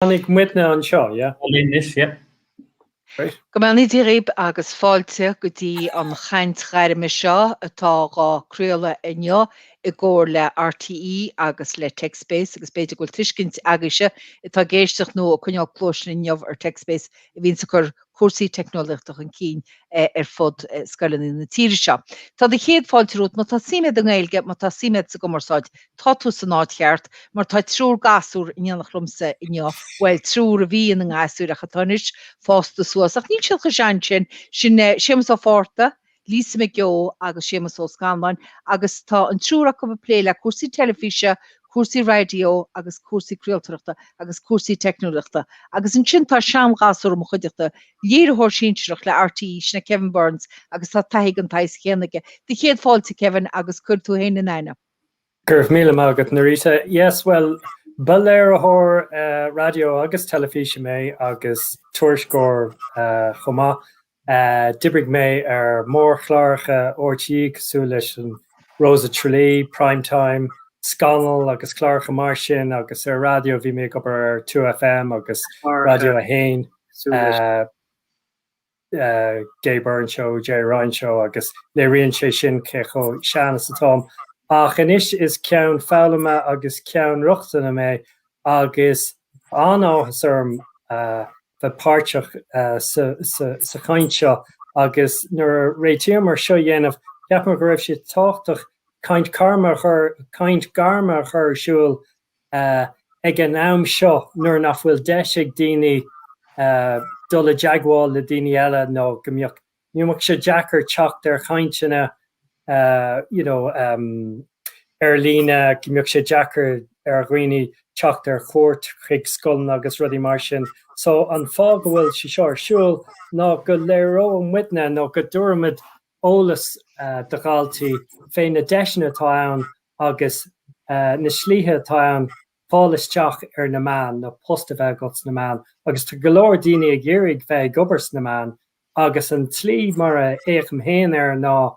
Tháinig muidne anseo, yeah? All in this, yeah? Great. Go mbeannaí Dia dhíbh agus fáilte go dtí an chaint ghairme seo atá dhá craoladh inniu i gcomhar le RTÉ agus le TechSpace agus b'fhéidir go bhfuil tuiscint agaibhse atá ag éisteacht nó ag coinneáil cluais linn inniu ar TechSpace a bhíonns ag cur cúrsaí teicneolaíochta chun cinn ar fud scoileanna na tíre seo. Tá céad fáilte romhat. Má tá suim a'd i nGaeilge, má tá suim a'd sa gcumarsáid, tá tú san áit cheart, mar tá triúr gasúr in éineacht liomsa inniu, bhuel, triúr a bhí ina ngasúir ach atá anois fásta suas, ach níl siad chomh sean sin, sin Séamus Ó Fátharta, Lisa McGeough agus Séamus Ó Scanláin agus tá an triúr acu ag plé le cúrsaí teilifíse, cúrsaí raidió agus cúrsaí craoltóireachta agus cúrsaí teicneolaíochta. Agus ansin tá seanghasúr i mo chuideachta, léiritheoir sinsearach le RTÉ, sin é Kevin Burns agus tá taithí den tsaghas céanna aige. Do chéad fáilte Kevin agus cuir tú fhéin in aithne. Go raibh míle maith agat Norita. Yes bhuel ba léiritheoir raidió agus teilifíse mé agus tuairisceoir chomh maith D'oibrigh mé ar mhórchláracha RTÉ cosúil leis an Rose of Tralee, Prime Time, Scannal agus cláracha mar sin agus ar raidió bhí mé ag obair ar 2FM agus Raidió 1, The Gay Byrne Show, Gerry Ryan Show agus léiríonn sé sin cé chomh sean is atáim. Ach anois is ceann foghlama agus ceann rochtana mé agus an-áthas orm a bheith páirteach sa chaint seo agus nuair a réitíomar é seo a dhéanamh cheapamar go raibh sé tábhachtach caint gairme caint gairme a chur ar siúl ag an am seo nuair nach bhfuil deis ag daoine dul i dteagmháil le daoine eile nó go mbeadh Go mbeadh sé deacair teacht ar chainteanna you know ar líne, go mbeadh sé deacair ar dhaoine teacht ar chuairt chuig scoileanna agus rudaí mar sin. So an fáth go bhfuil sé seo ar siúl ná go léireoidh muidne nó go dtabharfaimid eolas do dhaltaí fé na deiseanna atá ann agus na slite atá ann fáil isteach ar na meáin nó post a bheith agat sna meáin agus tá go leor daoine ag iarraidh bheith ag obair sna meáin agus an tslí mar a fhéachaim féin air ná,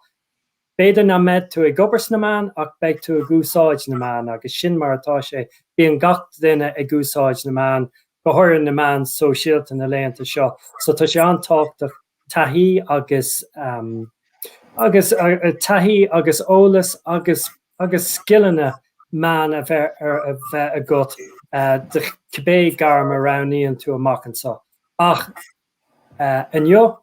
b'fhéidir nach mbeidh tú ag obair sna meáin ach beidh tú ag úsáid na meán agus sin mar atá sé, bíonn gach duine ag úsáid na meán, go háirithe na meáin sóisialta na laethanta seo so tá sé an-tábhachtach taithí agus agus taithí agus eolas agus agus scileanna meán a bheith a bheith agat do cibé gairm a roghnaíonn tú amach anseo. Ach. Inniu,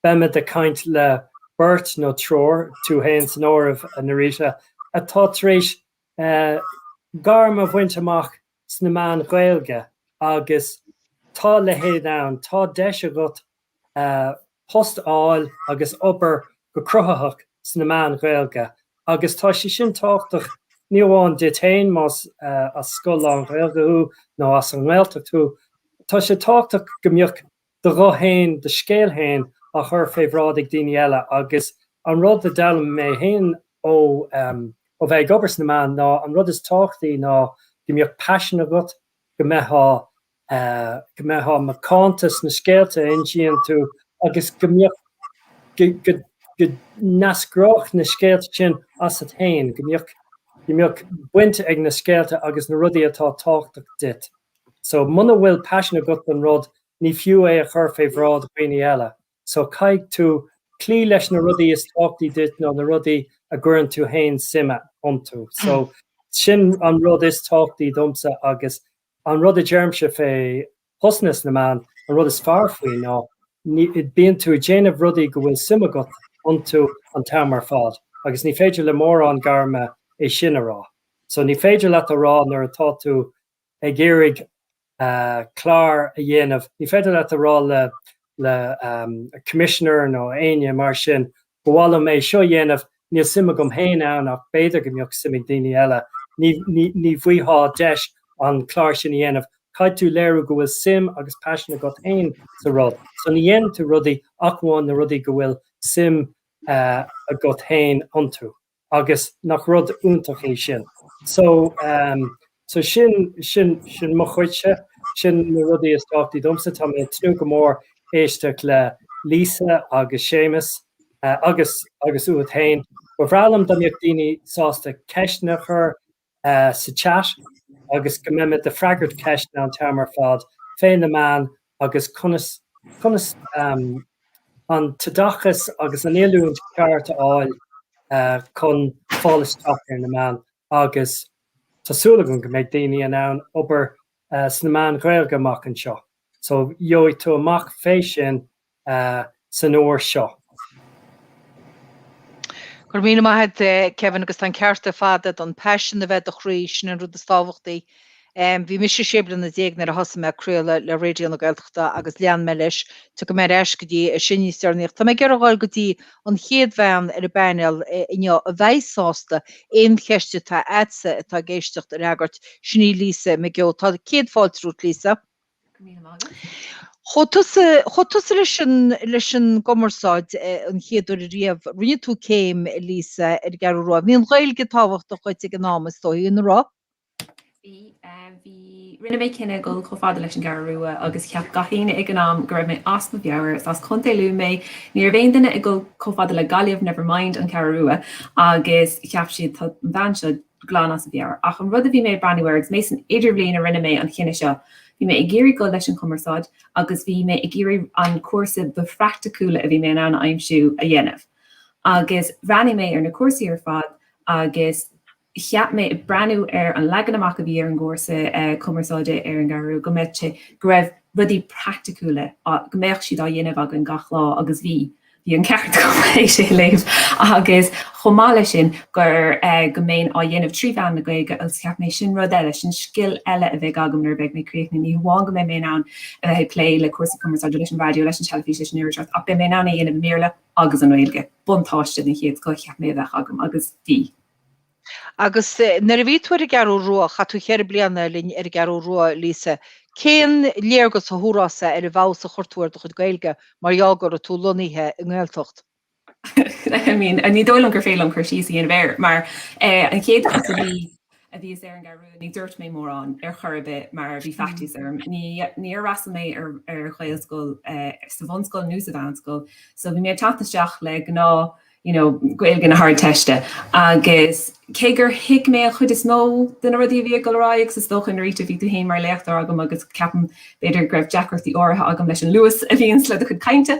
beimid ag caint le beirt nó triúr, tú fhéin san áireamh, a Norita, atá tar éis gairm a bhaint amach sna meáin Ghaeilge agus tá a leithéid ann, tá deis agat post a fháil agus obair go cruthaitheach sna meáin Ghaeilge Agus tá sé sin tábhachtach, ní amháin duit féin, más as scoil lán-Ghaeilge thú nó as an nGaeltacht thú, tá sé tábhachtach go mbeadh do ghuth féin, do scéal féin á chur fé bhráid ag daoine eile. Agus an rud a d'fhoghlaim mé féin ó bheith ag obair sna meáin ná an rud is tábhachtaí ná go mbeadh paisean agat, go mbeithfeá go mbeithfeá macánta sna scéalta a insíonn tú agus go mbeadh, go, go n-eascródh na scéalta sin asat fhéin, go mbeadh, go mbeadh baint ag na scéalta agus na rudaí atá tábhachtach duit. So, muna bhfuil paisean agat don rud, ní fiú é a chur fé bhráid daoine eile. So, caithfidh tú cloí leis na rudaí is tábhachtaí duit nó na rudaí a gcuireann tú fhéin suim iontu. So, sin an rud is tábhachtaí domsa agus An rud a deirimse fé phostanna sna meáin, an rud is fearr faoi ná bíonn tú ag déanamh rudaí go bhfuil suim agat iontu an t-am ar fad agus ní féidir le mórán gairme é sin a rá. So ní féidir leat a rá nuair atá tú ag iarraidh clár a dhéanamh, ní féidir leat a rá le Commissioner nó éinne mar sin Ba mhaith liom é seo a dhéanamh, níl suim agam féin ann ach b'fhéidir go mbeadh suim ag daoine eile. Ní bhfaighfeá deis an clár sin a dhéanamh. Caithfidh tú léiriú go bhfuil suim agus paisean agat féin sa rud so. Ní dhéanann tú rudaí ach amháin na rudaí go bhfuil suim agat féin iontu. agus nach rud iontach é sin. So, so sin, sin, sin mo chuidse, sin na rudaí is tábhachtaí domsa. Tá mé ag tnúth go mór éisteacht le Lisa agus Séamus agus, agus uait fhéin. Ba bhreá liom dá mbeadh daoine sásta ceisteanna a chur sa chat agus go mbeimid ag freagairt ceisteanna an t-am ar fad fé na meáin agus conas conas an t-oideachas agus an oiliúint ceart a fháil chun fáil isteach ar na meáin agus tá súil agam go mbeidh daoine in ann obair sna meáin Ghaeilge amach anseo so gheobhaidh tú amach fé sin san uair seo. Go raibh míle maith agat Kevin agus tá an ceart ar fad agat, an paisean a bheith i do chroí, sin an rud is tábhachtaí. Bhí mise sé bliana déag nuair a thosaigh mé ag craoladh le Raidió na Gaeltachta agus lean mé leis, tiocfaidh mé ar ais go dtí é sin níos deireanaí ach tá mé ag iarraidh a ghoil go dtí an chéad bhean ar an bpainéal inniu a bheidh sásta aon cheist atá a'dsa atá ag éisteacht a fhreagairt, sin í Lisa McGeough. Tá céad fáilte romhat Lisa. Chuaigh tusa, chuaigh tusa leis an, leis an gcumarsáid an chéad uair riamh, rinne tú céim, Lisa, ar an gCeathrú Rua. Bhí an Ghaeilge tábhachtach dhuit ag an am, is dóigh, an raibh? Bhí, bhí. Rinne mé cinneadh dul chomh fada leis an gCeathrú Rua agus cheap gach éinne ag an am go raibh mé as mo mheabhair, is as Contae Lú mé, ní raibh aon duine ag dul chomh fada le Gaillimh, never mind an Cheathrú Rua, agus cheap siad tá an bhean seo, glan as a meabhair. Ach an rud a bhí mé ag breathnú air agus mé san idirbhliain a rinne mé an cinneadh seo, bhí mé ag iarraidh dul leis an gcumarsáid agus bhí mé ag iarraidh an cúrsa ba phraicticiúla a bhí mé in ann a aimsiú a dhéanamh. Agus bhreathnaigh mé ar na cúrsaí ar fad agus cheap mé ag breathnú ar an leagan amach a bhí ar an gcúrsa cumarsáide ar an gCeathrú go mbeadh sé, go raibh rudaí praicticiúla, go mbeadh siad á dhéanamh againn gach lá agus bhí. Bhí an ceart agam ina léamh agus chomh maith leis sin gur go mbeinn á dhéanamh trí mheán na Gaeilge agus cheap mé sin rud eile, sin scil eile a bheadh agam nuair a bheidh mé críochnaithe. Ní hamháin go mbeidh mé in ann a bheith ag plé le cúrsaí cumarsáide, leis an raidió, leis an teilifís, leis an irisseacht ach beidh mé in ann é a dhéanamh i mBéarla agus i nGaeilge. Buntáiste den chéad scoth a cheap mé a bheadh agam agus bhí. Agus nuair a bhí tú ar an gCeathrú Rua, chaith tú cheithre bliana linn ar an gCeathrú Rua, Lisa, cén léargas a thabharfása ar an bhfeabhas a chuir tú ar do chuid Gaeilge mar gheall go raibh tú lonnaithe i nGaeltacht? I mean, ní dóigh liom gur féidir liom cur síos a dhéanamh air mar eh an chéad uair a bhí a bhíos ar an gCeathrú Rua ní dúirt mé mórán ar chor ar bith mar bhí faitíos orm. Ní níor fhreastail mé ar ar Ghaelscoil eh sa bhunscoil nó sa mheánscoil so bhí mé ag teacht isteach le gnáth you know Gaeilge na hArdteiste agus cé gur thuig mé an chuid is mó de na rudaí a bhí ag dul ar aghaidh agus is dócha an ráite a bhí tú féin mar léachtóir agam agus ceapaim b'fhéidir go raibh deacrachtaí áirithe agam leis an luas a bhíonns le do chuid cainte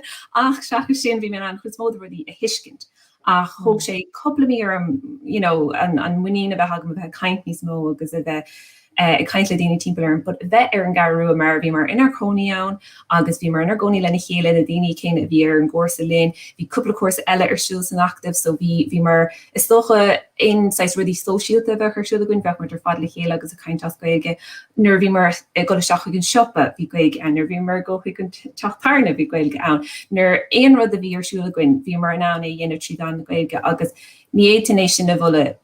ach seachas sin bhí mé in ann an chuid is mó de na rudaí a thuiscint ach thóg sé cúpla mí orm you know an muinín a bheith agam a bheith ag caint níos mó agus a bheith eh, ag caint le daoine timpeall orm, but bheith ar an Gcara Rua mar bhíomar inár gcónaí ann agus bhíomar inár gcónaí lena chéile na daoine céanna a bhí ar an gcúrsa linn, bhí cúpla cúrsa eile ar siúl san Acadamh so bhí bhíomar is dócha aon saghas rudaí sóisialta a bheadh ar siúl againn bheadh muid ar fad le chéile agus ag caint as Gaeilge nuair a bhíomar ag dul isteach chuig an siopa bhí Gaeilge ann nuair a bhíomar ag dul chuig an teach tábhairne bhí Gaeilge ann nuair aon rud a bhí ar siúl againn bhíomar in ann é a dhéanamh tríd an Ghaeilge agus ní fhéadfainn é sin a bhualadh,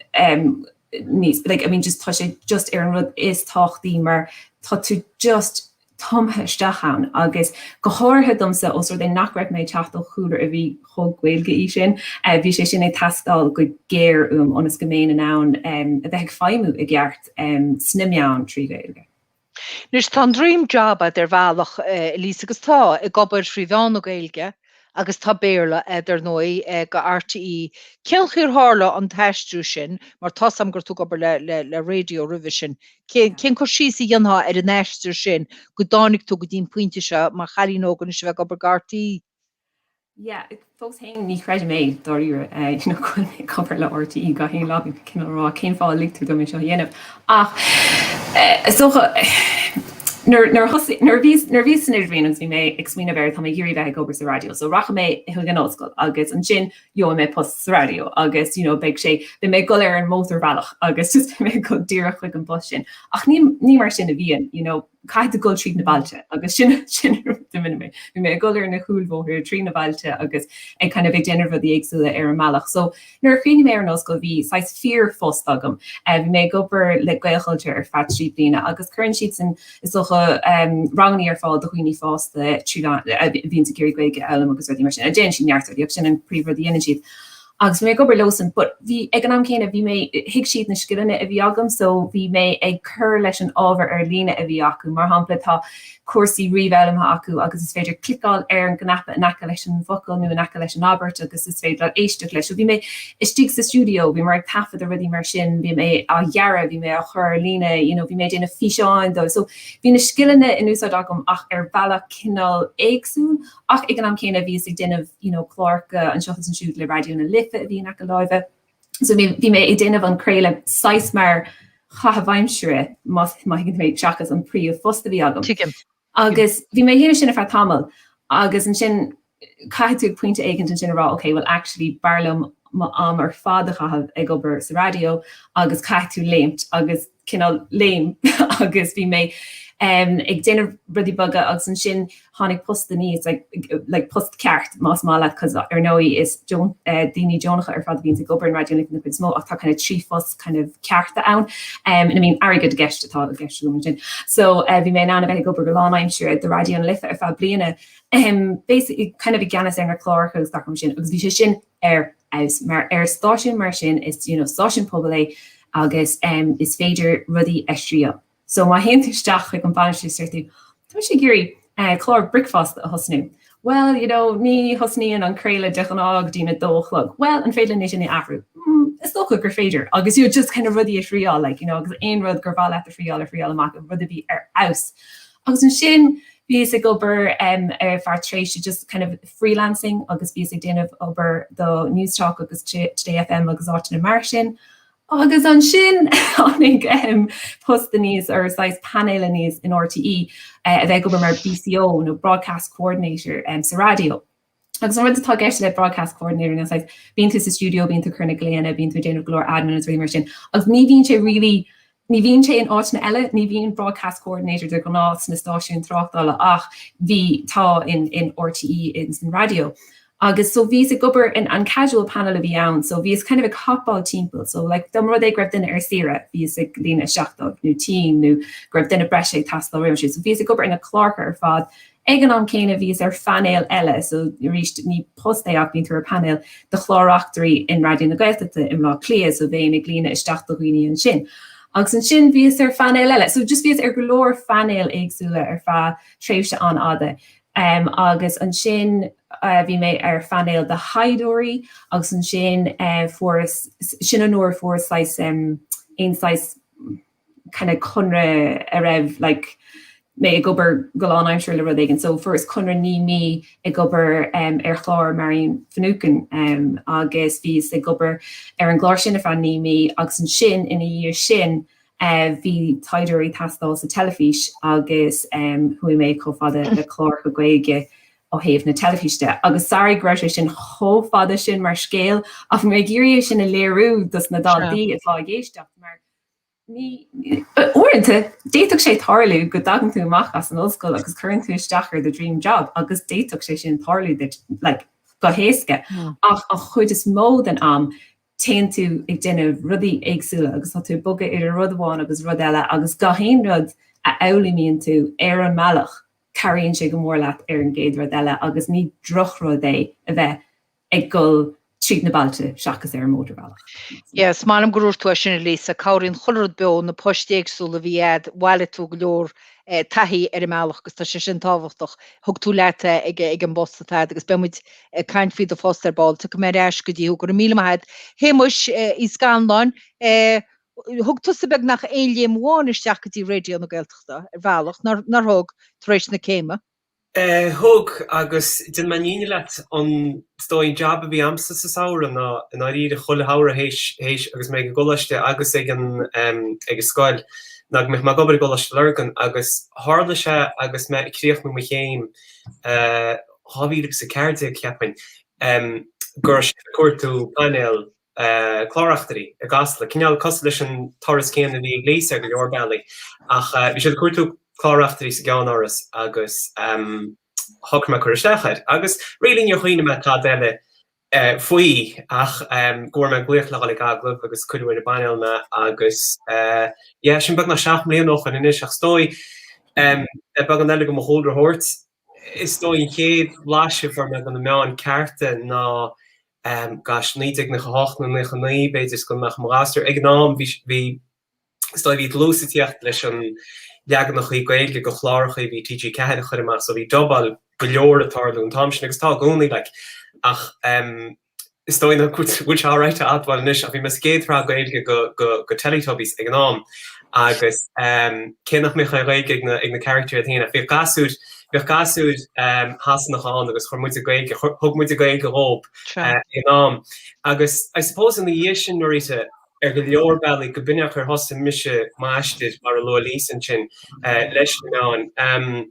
níos, like, I mean just tá sé just ar an rud is tábhachtaí mar tá tú just tumtha isteach ann agus go háirithe domsa os rud é nach raibh mé ag teacht ó chúlra a bhí chomh Gaelach sin, bhí sé sin ag teastáil go géar uaim ionas go mbeinn in ann a bheith ag feidhmiú i gceart sna meáin trí Ghaeilge. Anois tá an dream job agat ar bhealach, Elise, agus tá, ag obair trí mheán na Gaeilge agus tá Béarla agat, ar ndóigh, do RTÉ. Cén chaoi ar tharla an t-aistriú sin, mar tá's agam go raibh tú ag obair le, le, le raidió roimhe sin. Cén, cén cur síos a dhéanfá ar an aistear sin go dtáinig tú go dtí an pointe seo mar chailín óg anois a bheith ag obair do RTÉ? Yeah, fós fhéin ní chreidim é, dáiríre, you know, go bhfuil mé ag obair le RTÉ gach aon lá, ag cineál rá, cén fáth a lig tú dom é seo a dhéanamh? Ach, is dócha, nuair, nuair a thosaigh, nuair a bhíos, nuair a bhíos san Idirbhliain agus bhí mé ag smaoineamh ar, tá mé ag iarraidh bheith ag obair sa raidió, so rachaidh mé chuig an ollscoil agus ansin gheobhaidh mé post sa raidió agus, you know, beidh sé, beidh mé ag dul ar an mótarbhealach agus just beidh mé ag dul díreach chuig an bpost sin. Ach ní, ní mar sin a bhíonn, you know. caithfidh tú dul trí na bailte agus sin sin an rud a bhfuil mé. Bhí mé ag dul ar na cúlbhóithre trí na bailte agus ag kind of ag déanamh rudaí éagsúla ar an mbealach. So nuair a chríochnaigh mé ar an ollscoil bhí saghas fíorphost agam. Eh bhí mé ag obair le Gaelchultúr ar feadh trí bliana agus cuireann siadsan is dócha ehm ranganna ar fáil do dhaoine fásta trí lá eh bhíonns ag iarraidh Gaeilge a fhoghlaim agus rudaí mar sin. Eh déanann siad neart rudaí ach sin an príomhrud a dhéanann siad. Agus bhí mé ag obair leosan but bhí ag an am céanna bhí mé thuig siad na scileanna a bhí agam so bhí mé ag cur leis an ábhar ar líne a bhí acu. Mar shampla tá cúrsaí ríomhfhoghlama acu agus is féidir cliceáil ar an gcnaipe in aice leis an bhfocal nó in aice leis an abairt agus is féidir leat éisteacht leis. So bhí mé istigh sa stiúideo bhíomar ag taifeadadh rudaí mar sin bhí mé á ghearradh bhí mé á chur ar líne you know bhí mé ag déanamh físeáin dóibh so bhí na scileanna in úsáid agam ach ar bhealach cineál éagsúil Ach ag an am céanna bhíos ag déanamh you know cláracha anseo agus ansiúd le Raidió na Life a bhí in aice láimhe so bhí bhí mé ag déanamh an craoladh saghas mar chaitheamh aimsire más má thuigeann tú mé seachas an príomhphost a bhí agam. Tuigim. Agus bhí mé ag déanamh sin ar feadh tamaill agus ansin caithfidh tú ag pointe éicint ansin a rá ok bhuel actually b'fhearr liom m'am ar fad a chaitheamh ag obair sa raidió agus caithfidh tú léimt agus cineál léim mé agus bhí mé ag déanamh rudaí beaga agus ansin tháinig post aníos ag like post ceart más maith leat 'cause ar ndóigh is daoine deonacha ar fad a bhíonns ag obair in Raidió na Life an chuid is mó ach tá kind of trí phost kind of cearta ann and I mean airgead i gceist atá i gceist agam ansin so bhí mé in ann a bheith ag obair go lánaimseartha do Raidió na Life ar feadh bliana basically kind of i gceannas ar na cláracha agus gach rud mar sin agus bhí sé sin ar fheabhas. Mar ar stáisiún mar sin is you know stáisiún pobail é agus em is féidir rudaí a thriail. So má théann tú isteach chuig an bainisteoir is déarfaidh tú tá mise ag iarraidh eh clár bricfeasta a thosnú. Bhuel you know ní thosnaíonn an craoladh de ghnáth go dtí'n a dó a chlog. Bhuel an féidir linn é sin a athrú? Mm is dócha gur féidir agus you just kind of rudaí a thriáil like you know agus aon rud gur mhaith leat a thriáil a thriáil amach rud a bhí ar fheabhas. Agus ansin bhíos ag obair ar feadh tréimhse just kind of freelancing agus bhíos ag déanamh obair do Newstalk agus Today FM agus áiteanna mar sin. Agus ansin tháinig post aníos ar saghas painéal aníos in RTÉ a bheith ag obair mar BCO nó Broadcast Coordinator sa raidió. Agus an rud atá i gceist le broadcast coordinator ná bíonn tú sa stiúideo, bíonn tú ag cur na nglaonna, bíonn tú ag déanamh go leor admin agus rudaí mar sin agus ní bhíonn sé really, ní bhíonn sé in áiteanna eile, ní bhíonn broadcast coordinator de ghnáth sna stáisiúin tráchtála ach bhí, tá in RTÉ agus in raidió. Agus so bhíos ag obair in an casual panel a bhí ann so bhíos kind of ag hopáil timpeall so like dá mba rud é go raibh duine ar saoire bhíos ag líonadh isteach dóibh nó go raibh duine breise ag teastáil nó rud mar sin so bhíos ag obair sna cláracha ar fad Ag an am céanna bhíos ar phainéal eile, so arís ní post é ach bíonn tú ar phainéal de chláraitheoirí in Raidió na Gaeltachta i mBleá Cliath, so bhéinn ag líonadh isteach do dhaoine ansin. Agus ansin bhíos ar phainéal eile. So just bhíos ar go leor painéil éagsúla ar feadh tréimhse an-fhada. Em agus ansin bhí mé ar phainéal de thaighdeoirí agus ansin eh fuaireas, sin an uair a fuaireas saghas em aon saghas, kind of conradh a raibh like mé ag obair go lánaimsire le rud éigin. So fuaireas conradh naoi mí ag obair em ar chlár Marian Finucane em agus bhíos ag obair ar an gclár sin ar feadh naoi mí agus ansin ina dhiaidh sin eh bhí taighdeoirí ag teastáil sa teilifís agus em chuaigh mé chomh fada le cláracha Gaeilge ó thaobh na teilifíse. Agus sorry go raibh sé sin chomh fada sin mar scéal ach bhí mé ag iarraidh é sin a léiriú dos na daltaí atá ag éisteacht mar Ní. Uaireanta, d'fhéadfadh sé tarlú go dtagann tú amach as an ollscoil agus cuireann tú isteach ar do dream job agus d'fhéadfadh sé sin tarlú like go héasca ach an chuid is mó den am téann tú ag déanamh rudaí éagsúla agus tá tú ag bogadh idir rud amháin agus rud eile agus gach aon rud a fhoghlaímíonn tú ar an mbealach cabhraíonn sé go mór leat ar an gcéad rud eile agus ní drochrud é a bheith ag dul tríd na bailte seachas ar an mótarbhealach. Yes, m'anam gur fíor duit é sin a Lisa, cabhraíonn chuile rud beo, na poist éagsúla a bhí a'd, bhailigh tú go leor eh taithí ar an mbealach agus tá sé sin tábhachtach, thug tú leat é ag eh ag an bpost atá a'd agus beidh muid ag caint faoi do phost ar ball, tiocfaidh mé ar ais go dtí tú, go raibh míle maith a'd. A Shéamuis eh Uí Scannláin, eh thug tusa beagnach aon léim amháin isteach go dtí Raidió na Gaeltachta, ar bhealach, nár, nár thug, tar éis na céime? Thug, agus déanfaidh mé míniú leat an, is dóigh, an jab a bhí a'msa sa samhradh ná, i ndáiríre, chuile shamhradh théis, théis agus mé ag an gcoláiste agus ag an, ag an scoil, ná go mbeadh mé ag obair i gColáiste Lurgan agus tharla sé agus mé ag críochnú mo chéim, 2014, cheapfainn, go raibh siad ag cuartú painéal, cláreachtairí i gCasla, cineál cosúil leis an turas céanna a bhí ag Lisa ar go leor bealaí, ach bhí siad ag cuartú cláreachtairí sa gceannáras agus shocraigh mé cur isteach air. Agus really níor chuimhnigh mé tada eile faoi ach go bhfuair mé an glaoch le dhul ag agallamh agus cuireadh ar an bpainéal mé agus yeah, sin beagnach seacht mbliana ó shoin anois ach is dóigh le beagán eile de mo chúlra a thabhairt, is dóigh an chéad bhlaiseadh a fuair mé de na meáin cearta ná em, gosh, naoi déag naocha hocht nó naocha naoi, b'fhéidir, is gan ach i mo ghasúr. Ag an am, bhí, bhí, is dóigh, bhí dlús ag tíocht leis na leaganachaí Gaeilge de chlárachaí a bhí TG4 a chur amach so bhí dubáil go leor ag tarlú an t-am sin agus tá i gcónaí like ach em is dóigh nach bhfuil sé alright a admháil anois ach bhí mé sa gcéad shraith Gaeilge de, de, de Teletubbies ag an am agus em cé nach mbeadh an Ghaeilge ag na, ag na carachtair iad fhéin ach bhíodh gasúir Bhíodh gasúir Sasanach ann agus chuir muide Gaeilge, thug muide Gaeilge dhóib ag an am. Agus I suppose ina dhiaidh sin Norita, ar go leor bealaí, go b'in é an chaoi ar thosaigh mise m'aistear, mar a luaigh Lisa ansin, leis na meáin.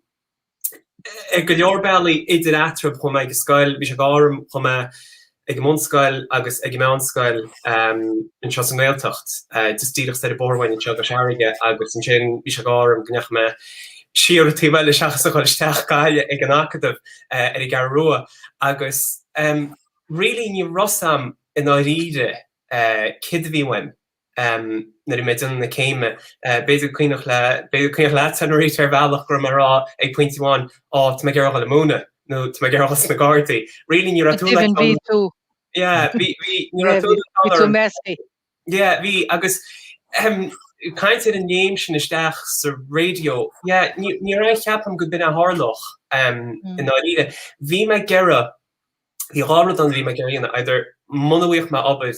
Ar go leor bealaí, idir eatarthu, chuaigh mé ag an scoil, bhí sé d'ádh orm, chuaigh mé, ag an mbunscoil agus ag an meánscoil anseo sa nGaeltacht, just díreach soir an bóthar uainn anseo i gCois Fharraige agus ansin bhí sé d'ádh orm go ndeachaigh mé siar an taobh eile seachas a dhul isteach go Gaillimh ag an Acadamh ar an gCeathrú Rua agus really ní raibh a fhios a'm i ndáiríre céard a bhí uaim. nuair a bhí mé ag déanamh na céime. B'fhéidir gur cuimhneach le, b'fhéidir cuimhneach leat é, a Norita, ar bhealach go raibh mé ag rá ag pointe amháin á tá mé ag iarraidh a dhul ag múineadh nó tá mé ag iarraidh a dhul sna Gardaí. Really ní raibh Go tú deimhin bhí tú. Yeah bhí, bhí, ní raibh tú le bhí tú messy. Yeah bhí agus ahem caint ar an léim sin isteach sa radio, yeah ní raibh, ní raibh, níor cheap mé go b'in é a tharlódh i ndáiríre. Bhí mé ag iarraidh. Bhí dhá rud ann a bhí mé ag iarraidh a dhéanamh, either muna bhfuigheadh mé obair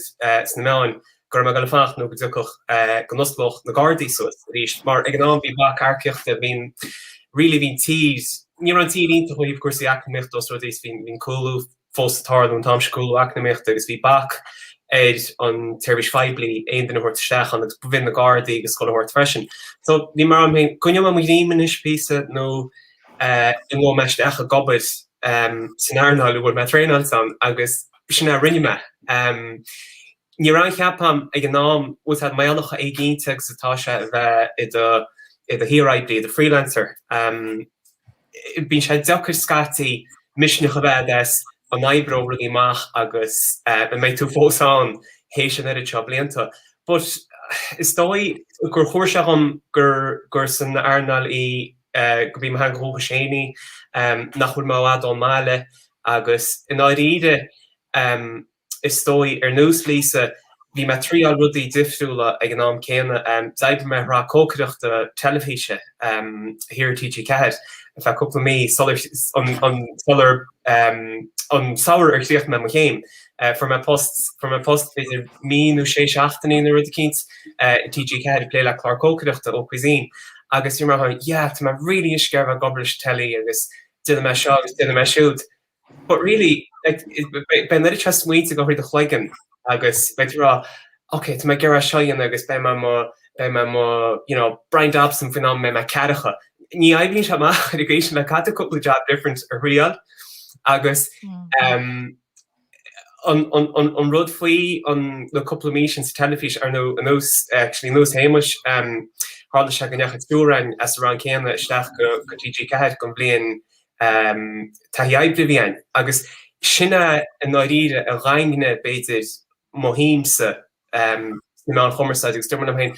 sna meáin go raibh mé ag dul ag fanacht nó go dtiocfadh, go n-osclódh na Gardaí suas arís mar ag an am bhí bac earcaíochta, bhí an, really bhí an tír, ní raibh an tír iontach ó thaobh cúrsaí eacnamaíochta ós rud é is bhí an cúlú fós ag tarlú an t-am sin, cúlú eacnamaíochta agus bhí bac ar an tseirbhís phoiblí aon duine a thabhairt isteach ann agus b'in na Gardaí a gcur san áireamh freisin. So bhí mé ag rá liom féin, coinneoidh mé mé ag imeacht anois píosa nó, an ngabhfaidh mé isteach ag obair san earnáil a bhfuil mé traenáilte ann agus b'shin é a rinne mé. Ní raibh, cheapfainn, ag an am, bhfuil 's a'd, bíonn sé chomh héiginnte agus atá sé a bheith i do i do shaor-oibrí, i do freelancer. Bíonn sé deacair scaití misneach a bheith a'd is go n-oibreoidh rudaí amach agus go mbeidh tú fós ann théis an oiread seo blianta. But is dóigh gur chinntigh sé dhom gur gur san earnáil i gurb í mo theanga dhúchais féin í, nach bhfuil mé i bhfad ón mbaile, agus i ndáiríre, is dóigh, ar nós Lisa, bhí mé ag triáil rudaí difriúla ag an am céanna. D'oibrigh mé i sraith cócaireachta teilifíse thiar ar TG4 ar feadh cúpla mí sular, an samhradh ar chríochnaigh mé mo chéim, eh, fuair mé post, fuair mé post, b'fhéidir mí nó sé seachtainí nó rud eicínt eh, i TG4 ag plé le clár cócaireachta Ó Cuisine agus níor mar thug, yeah, tá mé really isce ar bheith ag obair leis an teilí agus déanfaidh mé seo agus déanfaidh mé siúd. But really, like, it- b- b- bíonn an oiread smaointe ag dul thart i do chloigeann agus beidh tú ag rá, ok, tá mé ag iarraidh seo a dhéanamh agus beidh mé i mo, beidh mé i mo, you know, Bryan Dobson faoin am a mbeidh mé ceathracha. Ní oibríonn sé amach ar an gcaoi sin like caithfidh tú cúpla jab different a thriáil agus em, an rud faoi na cúpla mí sin sa teilifís ar nó ar nós actually ar nós Shéamuis um tharla sé go ndeachaigh triúr againn as an rang céanna isteach go go TG4 don bhliain um taithí oibre a bhí againn agus sin é i ndáiríre a dhaingnigh b'fhéidir mo shuimse sna meáin chumarsáide agus dúirt mé liom féin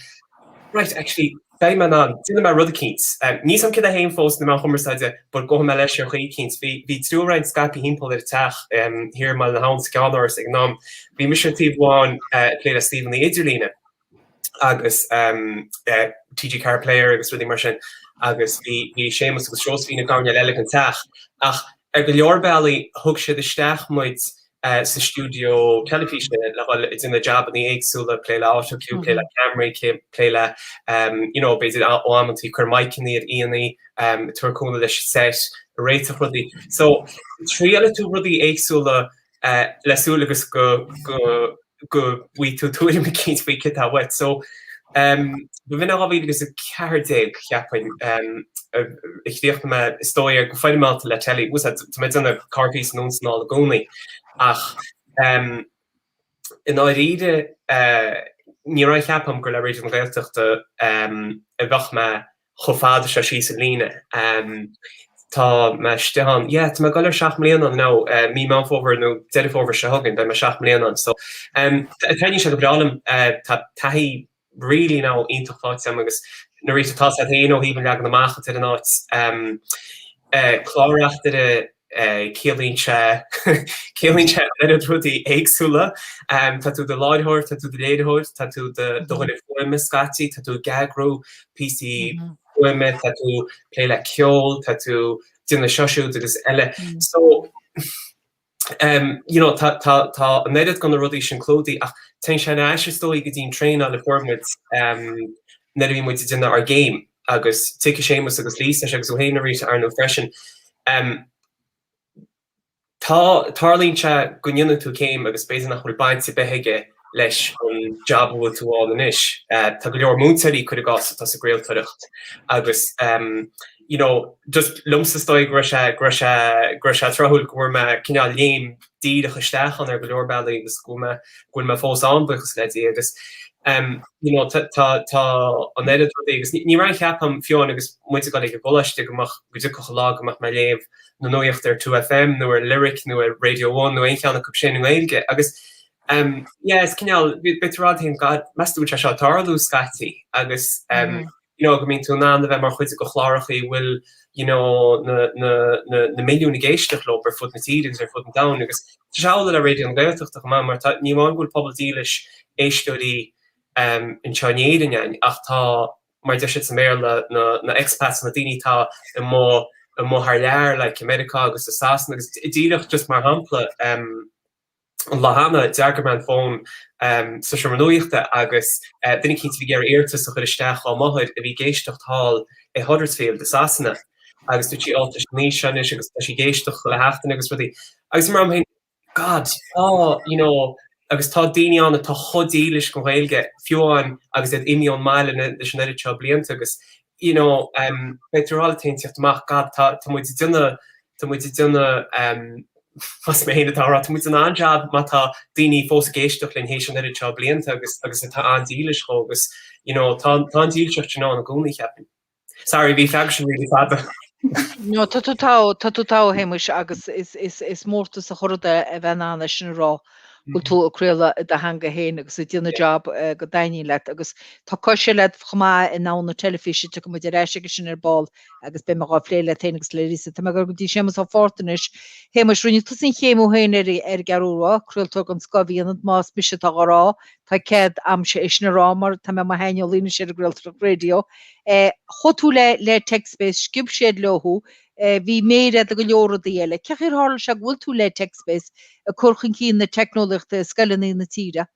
'Right, actually, beidh mé in ann, déanfaidh mé rud eicínt'. Níl a fhios agam céard é fhéin fós sna meáin chumarsáide but gabhfaidh mé leis ar chaoi eicínt. Bhí triúr againn scaipthe thimpeall ar an teach thiar i mBaile na hAbhann sa gCeannáras ag an am. Bhí mise ar thaobh amháin ag plé le suíomhanna idirlíne. agus TG4 Player agus rudaí mar sin agus bhí bhí Séamus agus Seosaimhín i gcoirnéal eile den teach ach ar go leor bealaí thug siad isteach muid sa stiúideo teilifíse le dhul ag déanamh jabannaí éagsúla, plé le autocue, plé le ceamaraí, plé le you know b'fhéidir amantaí ag cur maidhceannaí ar aíonna, tabhairt cúnamh leis an set, réiteach rudaí. So triailfidh tú rudaí éagsúla le súil agus go go bhfaighidh tú tuairim eicínt faoi céard tá uait. So b'in 2014 cheapfainn a chríochnaigh mé is dóigh go foirmeálta le Telly. Bhfuil a fhios agat tá mé ag déanamh corrphíosa anonn is anall i gcónaí ach i ndáiríre ní raibh aon cheapadh agam gur le Raidió na Gaeltachta a bheadh mé chomh fada seo síos an líne. Tá mé istigh ann, yeah, tá mé ag dul ar seacht mbliana ann now, mí Meán Fómhair nó Deireadh Fómhair seo chugainn beidh mé seacht mbliana ann. So, taitníonn sé go breá liom, tá taithí really now iontach faighte agam agus arís tá a fhios agat féin ó thaobh an leagan amach atá ar an áit, clár-reachtaire, ciallaíonn sé, ciallaíonn sé an oiread rudaí éagsúla. Tá tú i do láithreoir, tá tú i do léiritheoir, tá tú i do dhuine fuaime scaití, tá tú ag eagrú píosaí fuaime, tá tú ag plé le ceol, tá tú ag déanamh seo siúd agus eile. So you know tá tá tá an oiread de na rudaí sin clúdaithe ach téann sé ar ais is dóigh go dtí an traenáil a fuair muid nuair a bhí muid ag déanamh ár gcéim. agus tiocfaidh Séamus agus Lisa anois agus ó shin, arís ar ndóigh freisin. Tá, tarlaíonn sé go ndéanann tú céim agus b'fhéidir nach bhfuil baint ar bith aige leis an jab a bhfuil tú ann anois. Tá go leor múinteoirí, cuir i gcás, atá sa gcraoltóireacht agus you know, just liomsa is dóigh go raibh, go raibh, go raibh sé tráthúil go bhfuair mé cineál léim, díreach isteach ann ar go leor bealaí agus go bhfuil mé fós ann buíochas le Dia agus you know tá an oiread rudaí agus ní raibh aon cheapadh agam fiú amháin agus muid ag dul ag an gcoláiste go mbeadh go dtiocfadh an lá go mbeadh mé ag léamh na nuaíochta ar 2FM nó ar Lyric nó ar Radio One nó aon cheann acub sin i nGaeilge agus yeah is cineál beidh tú ag rá leat fhéin God meas tú an bhfuil sé seo ag tarlú scaití agus you know go mbíonn tú in ann a bheith mar chuid de chláracha a bhfuil you know na na na na milliúin ag éisteach leo ar fud na tíre agus ar fud an domhain agus tá sé amhlaidh le Raidió na Gaeltachta chomh maith mar tá ní amháin go bhfuil pobal dílis éisteoirí um, anseo in Éirinn fhéin ach tá mar deir siad sa Béarla na na expats na daoine atá imithe imithe thar lear like i Meiriceá agus sa Sasana agus i díreach just mar shampla um, lá cheana, d'fhreagair mé an fón sa seomra nuachta agus duine eicínt a bhí ag iarraidh iarratas a chuir isteach dhá máthair a bhí ag éisteacht thall i Huddersfield i Sasana agus dúirt sí Ó tá sí an aois seo anois agus tá sí ag éisteacht chuile sheachtain agus rudaí agus bhí mé ag rá liom féin God tá you know agus tá daoine ann atá chomh dílis gon Ghaeilge fiú amháin agus iad imithe ón mbaile leis an oiread seo blianta agus you know, beidh tú thall ag taontaíocht amach, god tá muid ag déanamh, tá muid ag déanamh, más mé féin atá á rá, tá muid ag déanamh an-jab má tá daoine fós ag éisteacht linn théis an oiread seo blianta agus agus atá an-dílis dhó agus, you know, tá an dílseacht sin ann i gcónaí cheapaim. Sorry, bhí an freagra sin really fada. No tá tú togha tá tú togha Shéamuis agus is is is mórtas a chairde a bheith in ann é sin a rá. bhfuil tú ag craoladh i do theanga fhéin agus ag déanamh job go dtaitníonn leat agus tá cos leat chomh maith i ndomhan na teilifíse, tiocfaidh muid ar ais aige sin ar ball agus beidh mé dhá phlé leat fhéin agus le Lisa. Tá mé ag dul go dtí Séamus Ó Fátharta anois. Shéamuis, rinne tusa an chéim thú fhéin ar an gCeathrú Rua, craoltóir den scoth a bhí ionat, más mise atá dhá rá, tá cead a'mse é sin a rá mar tá mé i mo shaineolaí anois ar an gcraoltóireacht raidió. Chuaigh tú le le TechSpace, sciob siad leo thú, eh bhí méar a'd i go leor rudaí eile. Cén chaoi ar tharla sé go bhfuil tú le TechSpace ag cur chun cinn na teicneolaíochta i scoileanna na tíre?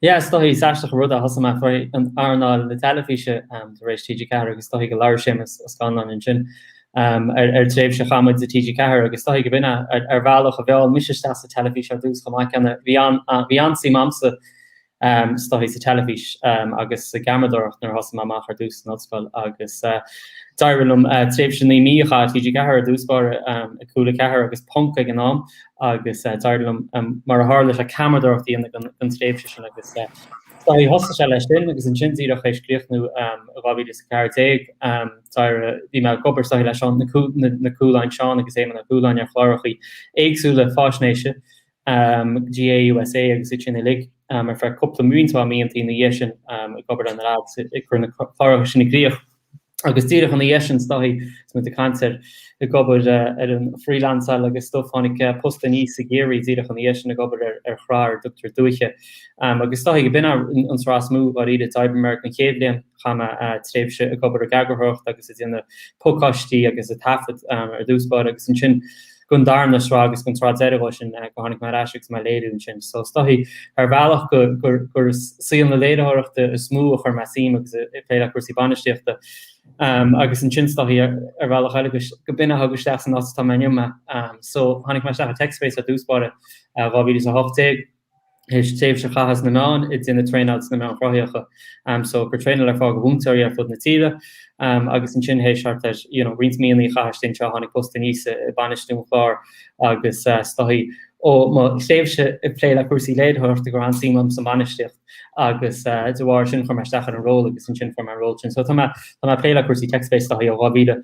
Yeah, is dóigh, is aisteach an rud é, thosaigh mé féin in earnáil na teilifíse tar éis TG4 agus is dóigh go labhair Séamus Ó Scanláin ansin ar thréimhse a chaith muid i TG4 agus is dóigh go b'in é ar bhealach a mheall mise isteach sa teilifís ar dtús chomh maith céanna, bhí an-suim a'msa is dóichí sa teilifís agus sa gceamaradóireacht nuair a thosaigh mé amach ar dtús san ollscoil agus d'éirigh liom tréimhse naoi mí a chaitheamh ar TG4 ar dtús báire ag Cúla4 agus Ponc ag an am agus d'éirigh liom mar a tharla sé ceamaradóireacht a dhéanamh don tréimhse sin agus is dóichí thosaigh sé leis sin agus ansin díreach théis críochnú 2014 bhí mé ag obair is dóichí leis na Cualáin Seán agus Éamonn Ó Cualáin ar chlárachaí éagsúla fáisnéise GAA USA agus iad sin uilig ar feadh cúpla mí tá mblianta ina dhiaidh sin ag obair leis na leads ag cur na cláracha sin i gcríoch agus díreach ina dhiaidh sin is dóichí is muid ag caint ar ag obair ar an freelanceáil agus stuff tháinig post aníos i gCiarraí díreach ina dhiaidh sin ag obair ar ar shraith ar a dtugtar Dúiche agus is dóichí go b'in an tsraith is mó dháiríre d'oibrigh mé air don chéad bhliain chaith mé tréimhse ag obair ag eagarthóireacht agus ag déanamh podcastaí agus ag taifead ar dtús báire agus ansin gon darna sraith agus gon tsraith deireadh ó sin go tháinig mé ar ais agus mé ag léiriú ansin. So is dóichí ar bhealach gur saol na léiritheoireachta is mó a chuir mé suim agus ag plé le cúrsaí bainistíochta. Agus ansin is dóichí ar bhealach eile go b'in a thug isteach san áit atá mé inniu. So tháinig mé isteach i TechSpace ar dtús báire 2018. Théis tréimhse a chaitheamh sna meáin ag déanamh traenáil sna meáin chruthaitheacha. So ag cur traenáil ar fáil go mhúinteoirí ar fud na tíre agus ansin théis thart ar you know roinnt míonna a chaitheamh istigh anseo tháinig post aníos i bainistiú an chláir agus is dóichí ó mo thréimhse ag plé le cúrsaí léiritheoireachta go raibh an-suim a'm sa mbainistíocht agus de bharr sin chuir mé isteach ar an ról agus ansin fuair mé an ról sin. So tá mé tá mé ag plé le cúrsaí TechSpace is dóichí ó 2000.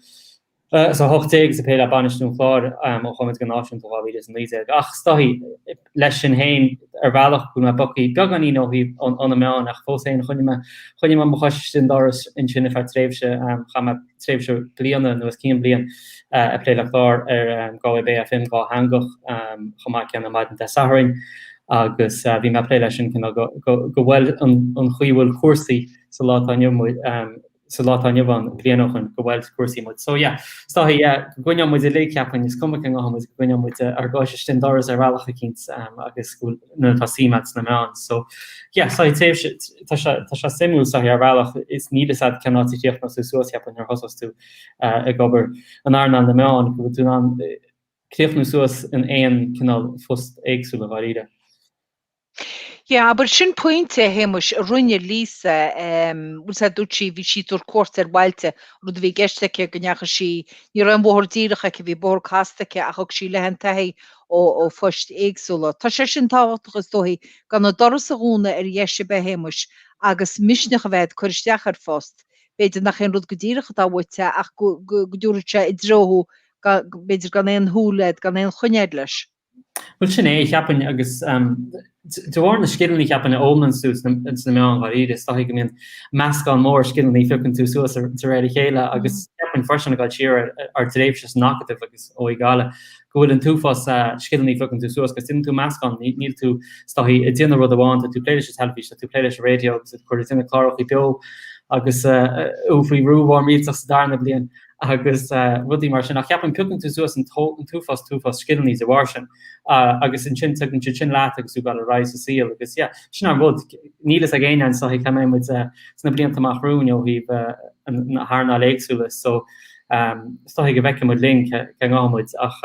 Is a 18 is ag plé le bainistiú an chláir ó chuaigh muid go náisiúnta 2019. Ach is dóichí leis sin fhéin ar bhealach go bhfuil mé bogtha beagáinín ó thaobh óna meáin ach fós fhéin choinnigh mé choinnigh mé mo chois istigh an doras ansin ar feadh tréimhse chaith mé tréimhse bliana nó os cionn bliain ag plé le clár ar Galway Bay FM dhátheangach chomh maith ceann ar maidin Dé Sathairn agus bhí mé ag plé leis sin cineál go bhfuil an chaoi a bhfuil cúrsaí sa lá atá inniu ann sa lá atá inniu ann, bliain ó shoin, gur bhuail cúrsaí muid. So yeah, is dóichí, go gcoinníonn muid uilig, cheapfainn, is cuma cé ngabhfaidh muid, go gcoinníonn muid ár gcois istigh an doras ar bhealach eicínt agus go bhfuil, nuair atá suim a'd sna meáin. So yeah, so tréimhse, tá sé, tá sé suimiúil is dóichí ar bhealach is níl 'fhios a'd cén áit a chríochnós tú suas cheapfainn nuair a thosós tú ag obair in earnáil na meáin go bhfuil tú in ann críochnú suas in aon cineál phost éagsúil dháiríre. Yeah, abair, sin pointe, a Shéamais, a rinne Lisa. em, Bhuel, sa dúirt sí, bhí sí ag tabhairt cuairt ar bhailte, rud a bhí i gceist aici go ndeachaigh sí, ní raibh an bóthar díreach aici, bhí bóthar casta aici, ach thug sí léi an-taithí ó, ó phoist éagsúla. Tá sé sin tábhachtach, is dóithí, gan an doras a dhúnadh ar dheis ar bith, a Shéamais, agus misneach a bheith a'd cur isteach ar phost. B'fhéidir nach é an rud go díreach atá uait, ach go, go, go dtabharfaidh sé i dtreo thú, ga- b'fhéidir gan aon shúil a'd, gan aon choinne a'd leis. Bhuel, sin é, cheapfainn, agus de bharr na scileanna, cheapfainn, a fhoghlaimíonn tú sna meáin dháiríre, is dóichí go mbíonn meascán mór scileanna a phiocann tú suas de réir a chéile agus cheapfainn freisin, ag dul siar ar d'thréimhse san Acadamh agus OÉ Gaillimh, go bhfuil an t-uafás scileanna a phiocann tú suas agus déanann tú meascán, níl tú, is dóichí, ag déanamh rud amháin, tá tú ag plé leis an teilifís, tá tú ag plé leis an raidió agus tú ag cur, ag déanamh cláracha beo agus faoi bhrú mhór millteach sa darna bliain. agus rudaí mar sin, ach cheapfainn piocann tú suas an t-uafás, t-uafás scileannaí de bharr sin, agus ansin tugann tú iad sin leat agus tú ag goil ar aghaidh sa saol, agus yeah, sin an rud, níl a fhios ag éinne is dóichí cá mbeidh muid sna blianta amach romhainn ó thaobh na hearnáil éagsúla, so is dóichí go bhfeicfidh muid linn cá ngabhfaidh muid, ach.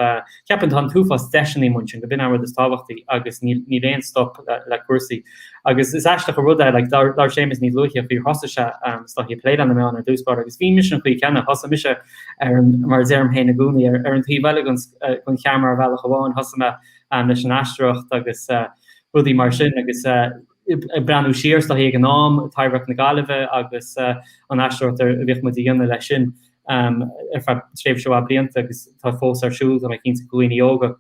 Cheapfainn tá an t-uafás deiseannaí amuigh ansin go b'in an rud is tábhachtaí agus níl aon stop le cúrsaí. Agus is aisteach an rud é like labhair Séamus níos luaithe faoi thosaigh sé um is dóichí ag plé leis na meáin ar dtús báire agus bhí mise an chaoi chéanna thosaigh mise ar an mar a deirim féin i gcónaí ar ar an taobh eile den den cheamara ar bhealach amháin thosaigh mé um leis an aisteoireacht agus uh rudaí mar sin agus uh ag breathnú siar is dóichí ag an am, Taibhdhearc na Gaillimhe agus an aisteoireacht a bhíodh muid a dhéanamh leis sin ar feadh tréimhse mhaith blianta agus tá fós ar siúl tá mé cinnte do dhaoine óga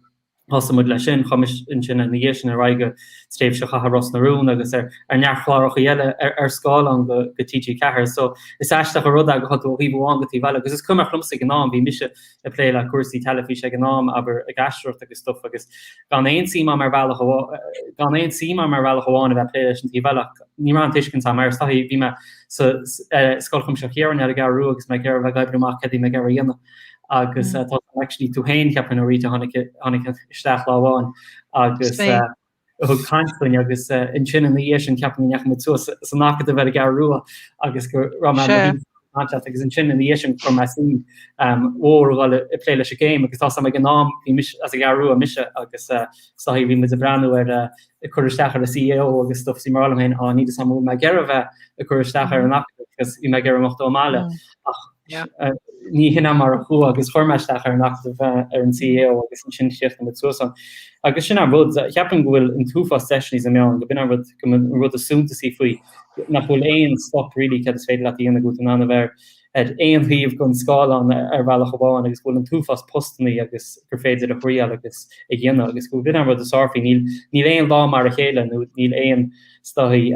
thosaigh muid leis sin, chuaigh mise ansin ina dhiaidh sin ar aghaidh go tréimhse a chaitheamh ar Ros na Rún agus ar ar neart chlárachaí eile ar ar scáileán do do TG4 so is aisteach an rud é go tháinig tú ó thaobh amháin go taobh eile agus is cuimhneach liomsa ag an am bhí mise ag plé le cúrsaí teilifíse ag an am, abair, ag aisteoireacht agus stuff agus gan aon suim a'm ar bhealach amhá- eh, gan aon suim a'm ar bhealach amháin a bheith ag plé leis an taobh eile ach ní raibh an tuiscint a'm mar is dóichí bhí mé sa s- eh, Scoil Chuimsitheach Chiaráin ar an gCeathrú Rua agus mé ag iarraidh a bheith ag oibriú amach céard a bhí mé ag iarraidh a dhéanamh agus Mm. eh, tá actually tú féin cheapfainn nó Rita tháinig i- tháinig isteach lá amháin agus Spé- eh, a thug caint dúinn agus ansin ina dhiaidh sin cheapfainn go ndeachaigh muid suas san Acadamh ar an gCeathrú Rua agus go raibh mé Sea. ag caint leat agus ansin ina dhiaidh sin chuir mé suim mhór a ghoil ag plé leis an gcéim agus tá's a'm ag an am bhí mise as an gCeathrú Rua mise agus is dóichí bhí muid ag breathnú ar ag cur isteach ar an CAO agus stuff is bhí mé ag rá liom féin á níl a fhios a'm an bhfuil mé ag iarraidh a bheith ag cur isteach ar an Acadamh agus bhí mé ag iarraidh imeacht ón mbaile ach Ní hin é mar a chuaigh agus chuir mé isteach ar an Acadamh ar an CAO agus ansin chríochnaigh muid suas ann. Agus sin an rud, cheapfainn go bhfuil an t-uafás deiseannaí sna meáin, go b'in an rud, go b'in an rud is suntasaí faoi, nach bhfuil aon stop really céard is féidir leat a dhéanamh go bhfuil tú in ann a bheith ar aon taobh den scáileán ar bhealach amháin agus go bhfuil an t-uafás postannaí agus gur féidir a thriail agus a dhéanamh agus go b'in an rud is fearr faoi, níl aon lá mar a chéile nó níl aon is dóichí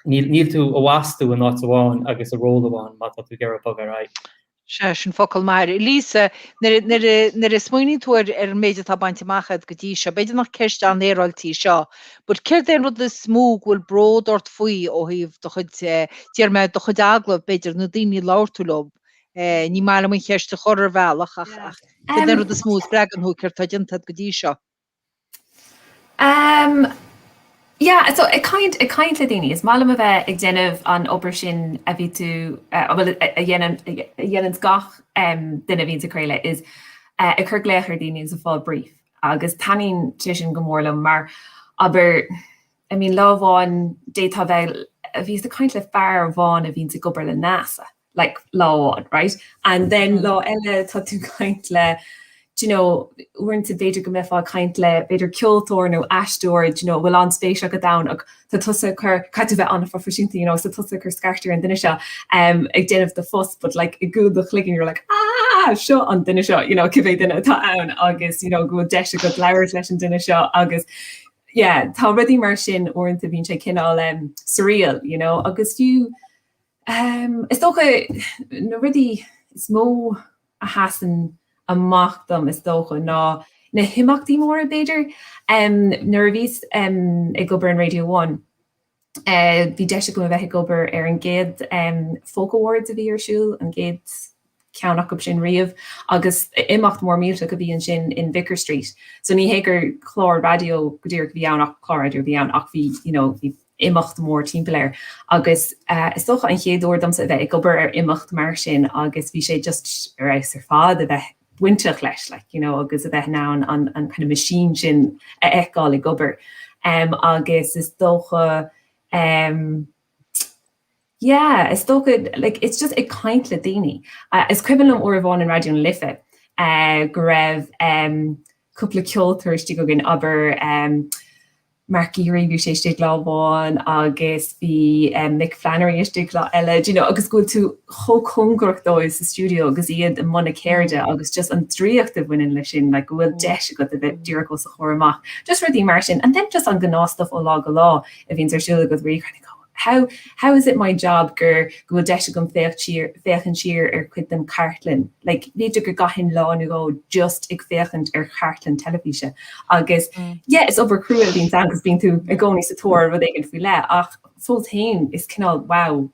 Níl tú a bhástú in áit amháin agus i ról amháin má tá tú ag iarraidh bogadh ar aghaidh. Sea, sin focal maith. Lisa, nuair a smaoiníonn tú ar an méid atá bainte amach agat go dtí seo, b'fhéidir nach ceist an-fhéaráilte í seo, but céard é an rud is mó go bhfuil bród ort faoi ó thaobh do chuid, déarfaidh mé, do chuid agallamh, b'fhéidir, na daoine a labhair tú leo? Ní maith liom an cheist a chur, ar bhealach, ach céard é an rud is mó a spreagann thú, céard atá déanta agat go dtí seo? Um yeah so ag caint ag caint le daoine is maith liom a bheith ag déanamh an obair sin a bhí tú a bhfuil a dhéanann a dhéananns gach duine a bhíonns ag craoladh is ag cur glaoch ar dhaoine is ag fáil brief agus taitníonn sé sin go mór liom mar obair I mean lá amháin d'fhéadfá a bheith, bhíos ag caint le fear amháin a bhíonns ag obair le NASA. like lá amháin right and then lá eile tá tú ag caint le d'you know uaireanta b'fhéidir go mbeifeá ag caint le b'fhéidir ceoltóir nó aisteoir d'you know a bhfuil an-spéis agat ann ach tá tusa ag cur, caithfidh tú a bheith an-phroifisiúnta you know so tá tusa ag cur scairt ar an duine seo em ag déanamh do phost but like i gcúl do chloigeann you're like aah seo an duine seo you know cibé duine atá ann agus you know go bhfuil deis agat labhairt leis an duine seo agus yeah tá rudaí mar sin uaireanta bíonn sé cineál em surreal you know agus fiú Is dócha, na rudaí is mó a sheasann amach dom is dócha ná na himeachtaí móra b'fhéidir. Nuair a bhíos ag obair in Radio One, bhí deis agam a bheith ag obair ar an gcéad Folk Awards a bhí ar siúl, an chéad ceann acub sin riamh agus imeacht mór millteach a bhí ansin in Vicar Street so ní hé gur clár raidió go díreach a bhí ann ach clár raidió a bhí ann ach bhí you know bhí imeacht mór timpeall air agus uh, is dócha an chéad uair domsa a bheith ag obair ar imeacht mar sin agus bhí sé just ar fheabhas ar fad a bheith bainteach leis like, you know, agus a bheith ná an, an, an cineál machine sin a fheiceáil ag obair um, agus is dócha um, Yeah, is dócha, like, it's just ag caint le daoine. Is cuimhin liom uair amháin in Raidió na Life go raibh cúpla ceoltóir istigh againn, abair Mark Geary, bhí sé istigh lá amháin agus bhí Mick Flannery istigh lá eile, do you know, agus go bhfuil tú chomh cóngarach dóibh sa stiúideo agus iad i mbun a gceirde agus just an draíocht a bhaineann leis sin, like go bhfuil deis agat a bheith díreach os a chomhair amach, just rudaí mar sin. And then just an gnáthstuif ó lá go lá a bhíonns ar siúl agat where you kind of go. How how is it my job gur go bhfuil deis agam féachaint siar féachaint siar ar chuid den chartlann? Like b'fhéidir go gcaithfinn lá nó dhó just ag féachaint ar chartlann teilifíse agus yeah is obair chrua a bhíonns ann 'cause bíonn tú i gcónaí sa tóir ar rud éigin faoi leith ach fós féin is cineál wow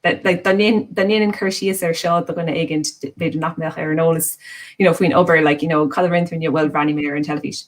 that like dá ndéan dá ndéanann cur síos air seo do dhuine éigin b'fhéidir nach mbeadh ar an eolas you know faoin obair like you know cad a rinne tú inniu? Well bhreathnaigh mé ar an teilifís.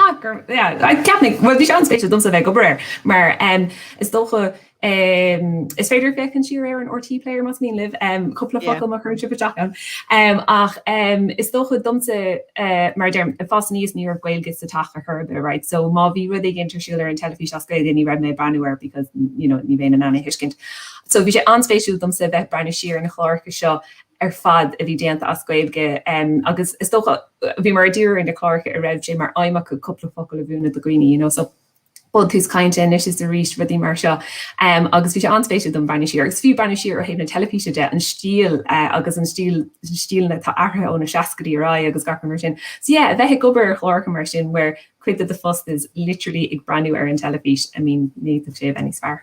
Ceapfainn, bhuel bhí sé an-spéisiúil domsa a bheith ag obair air mar is dócha, is féidir féachaint siar ar an RTÉ Player más mian libh cúpla focal má chuireann sibh isteach ann, ach is dócha domsa mar a deirim, ag fás aníos ní raibh Gaeilge sa teach ar chor ar bith right so má bhí rud éigin ar siúl ar an teilifís as Gaeilge ní raibh mé ag breathnú air because you know ní bheinn in ann é a thuiscint. So bhí sé an-spéisiúil domsa a bheith ag breathnú siar ar na cláracha seo ar fad a bhí déanta as Gaeilge agus is dócha, bhí muid ag díriú ar na cláracha a raibh sé mar aidhm acu cúpla focal a mhúineadh do dhaoine, you know, so Buntús Cainte, Anois is Arís, rudaí mar seo. Um, agus bhí sé an-spéisiúil dom breathnú siar, agus fiú breathnú siar ó thaobh na teilifíse de, an stíl uh, agus an stíl, stíleanna atá athraithe ó na 60idí ar aghaidh agus gach rud mar sin. So yeah, a bheith ag obair ar chláracha mar sin where cuid de do phost is literally ag breathnú ar an teilifís, I mean, ní fhéadfadh sé a bheith níos fearr.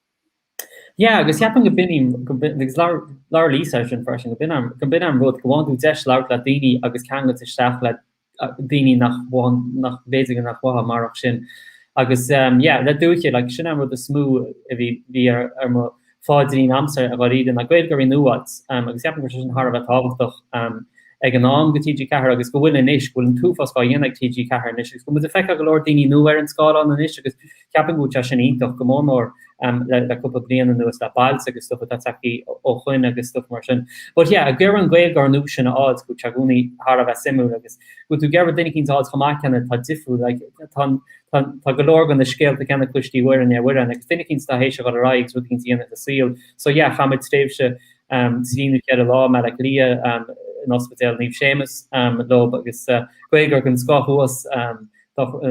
Yeah, agus ceapaim go b'in, go b'in, agus labhair, labhair Lisa ar sin freisin, go b'in an, go b'in an rud, go bhfaigheann tú deis labhairt le daoine agus ceangailt isteach le daoine nach bhfaigheann, nach, b'fhéidir go nach bhfaighfeá marach sin. Agus ehm yeah, le Dúiche, like, sin an rud is mó a bhí, bhí ar, ar mo phaidrín a'msa i ndáiríre ná Gaeilgeoirí nua a fháilt ehm agus ceapaim go raibh sé sin thar a bheith tábhachtach ehm ag an am go TG4 agus go bhfuil anois, go bhfuil an t-uafás á dhéanamh ag TG4 anois agus go bhfuil muid ag feiceáil go leor daoine nua ar an scáileán anois agus Ceapaim go bhfuil sé sin iontach go mór mór le cúpla bliain anuas le Bailte agus stuff atá tagthaí ó shoin agus stuff mar sin. But yeah ag iarraidh na Gaeilgeoirí nua sin a fháilt go bhfuil sé i gcónaí thar a bheith suimiúil agus go bhfuil tú ag iarraidh duine eicínt a fháilt chomh maith céanna atá difriúil like tá tá tá go leor go na scéalta céanna cloistí uair i ndiaidh uaire agus duine eicínt atá théis a dhul ar aghaidh agus rud eicínt a dhéanamh sa saol so yeah chaith muid tréimhse um trí nó ceithre lá i mBaile Átha Cliath um in Ospidéal Naomh Séamas um leob agus uh, Gaeilgeoir den scoth thuas um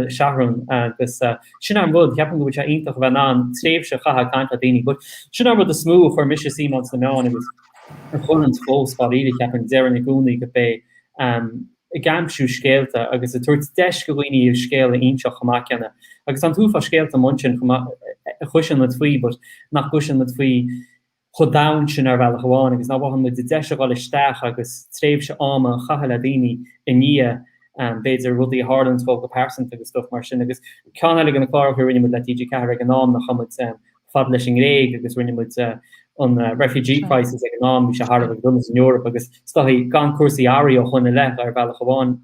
Sharon agus sin é an rud, ceapaim go bhfuil sé iontach a bheith in ann tréimhse a chaitheamh ag caint le daoine but sin é an rud is mó a chuir mise suim ann sna meáin agus a chuireanns fós dáiríre ceapaim, deirim i gcónaí go b'é ehm ag aimsiú scéalta agus ag tabhairt deis go dhaoine a scéal a inseacht chomh maith céanna agus tá an t-uafás scéalta amuigh ansin chomh maith a chloiseann muid faoi but nach gcloiseann muid faoi chomh domhain sin ar bhealach amháin agus nach bhfaigheann muid an deis a dhul isteach agus tréimhse ama a chaitheamh le daoine i ndiaidh b'fhéidir rudaí a tharlaíonns dóibh go pearsanta agus stuff mar sin agus ceann eile de na cláracha a rinne muid le TG4 ag an am ná chuaigh muid fad leis an nGréig agus rinne muid an refugee crisis ag an am bhí sé thar a bheith dona san Eorap agus is dóichí gan cúrsaí athraithe ó shoin i leith ar bhealach amháin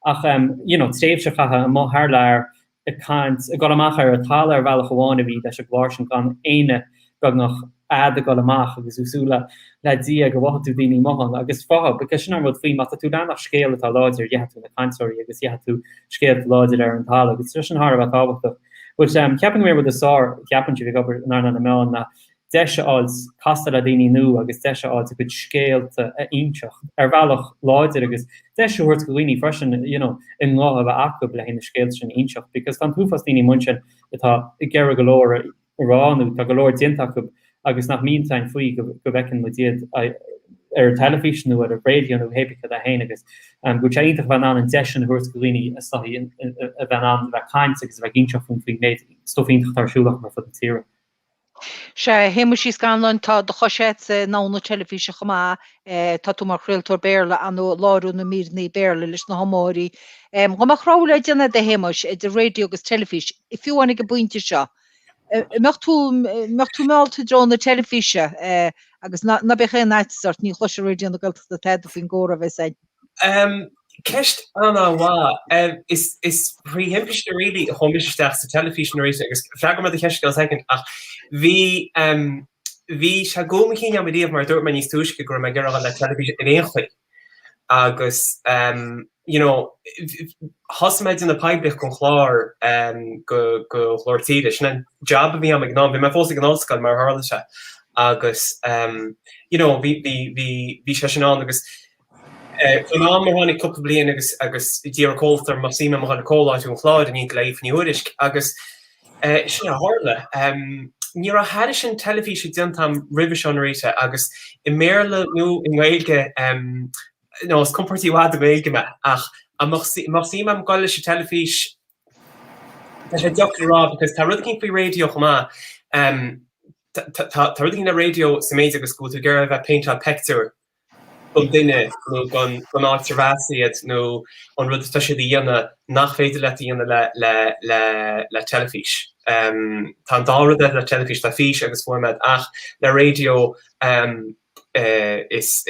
ach you know tréimhse a chaitheamh amuigh thar lear ag caint, ag dul amach ar a' talamh ar bhealach amháin a bhí leis a' gclár sin gan éinne beagnach a'd a' gul amach agus thú ag súil le Dia go bhfaigheadh tú daoine amuigh ann agus fátha, because sin an rud faoi, má tá tú ag leanacht scéal atá láidir gheobhaidh tú na cainteoirí agus gheobhaidh tú scéalta láidir ar an talamh agus tá sin thar a bheith tábhachtach. But, ceapaim go mb'é an rud is fearr, ceapaim, faoi bheith ag obair in earnáil na meáin ná, deis a fháil castáil le daoine nua agus deis a fháilt a gcuid scéalta a inseacht ar bhealach láidir agus deis a thabhairt go dhaoine freisin you know a nguth a bheith acu le haghaidh na scéalta sin a inseacht because tá an t-uafás daoine amuigh ansin atá ag iarraidh go leor a rá nó tá go leor déanta acu agus nach mbíonn a fhios againn faoi go go bhfeiceann muid iad ar an teilifís nó ar an raidió nó cé bith céard é féin agus go bhfuil sé iontach a bheith in ann an deis sin a thabhairt go dhaoine is dóigh a bheith in ann bheith ag caint agus a bheith ag inseacht faoin faoin méid stuif iontach atá ar siúl acu ar fud na tíre. Sea, a Shéamuis Uí Scanláin, tá do chois agat i ndomhan na teilifíse chomh maith. Tá tú mar chraoltóir Béarla ann ag láithriú na míreanna Béarla leis na hiomaitheoirí. Dhá mbeadh rogha le déanamh agat, a Shéamuis, idir raidió agus teilifís, fiú amháin ag an bpointe seo, an mbeadh tú, an mbeadh tú meallta i dtreo na teilifíse? Agus ná, ná bíodh aon fhaitíos ort, ní chloisfidh Raidió na Gaeltachta tada faoin gcomhrá a bheas againn. Ceist an-mhaith. Is thrí thimpiste really a chuaigh mise isteach sa teilifís Norita agus freagróidh mé do cheist i gceann soicind ach bhí, bhí sé i gcúl mo chinn agam riamh mar a dúirt mé níos túisce go raibh mé ag iarraidh a dhul le teilifís ar aon chaoi agus you know thosaigh mé ag déanamh poiblíocht gon chlár go go Ghlór Tíre, sin an jab a bhí agam ag an am, bhí mé fós ag an ollscoil mar a tharla sé agus you know bhí, bhí, bhí, bhí sé sin ann agus. Faoin am ar tháinig cúpla bliain agus d'iarr an comhlacht orm an mbeadh suim agam a dhul ag comhláithriú an chláir in éineacht le Aoife Ní Thuairisc agus sin a tharla. Ní raibh thairis sin teilifíse déanta agam roimhe seo, Norita, agus i mBéarla nó i nGaeilge nó is compordaí i bhfad i nGaeilge mé ach mbeadh suim agam dul leis an teilifís tá sé deacair a rá because tá rud eicínt faoi raidió chomh maith tá rud eicínt le raidió sa méid agus go bhfuil tú ag iarraidh a bheith ag péinteáil peictiúir don duine nó don áit a bheas siad nó an rud atá siad a dhéanamh nach féidir leat a dhéanamh le teilifís. Tá an dá rud agat le teilifís tá fís agus fuaim agat ach le raidió is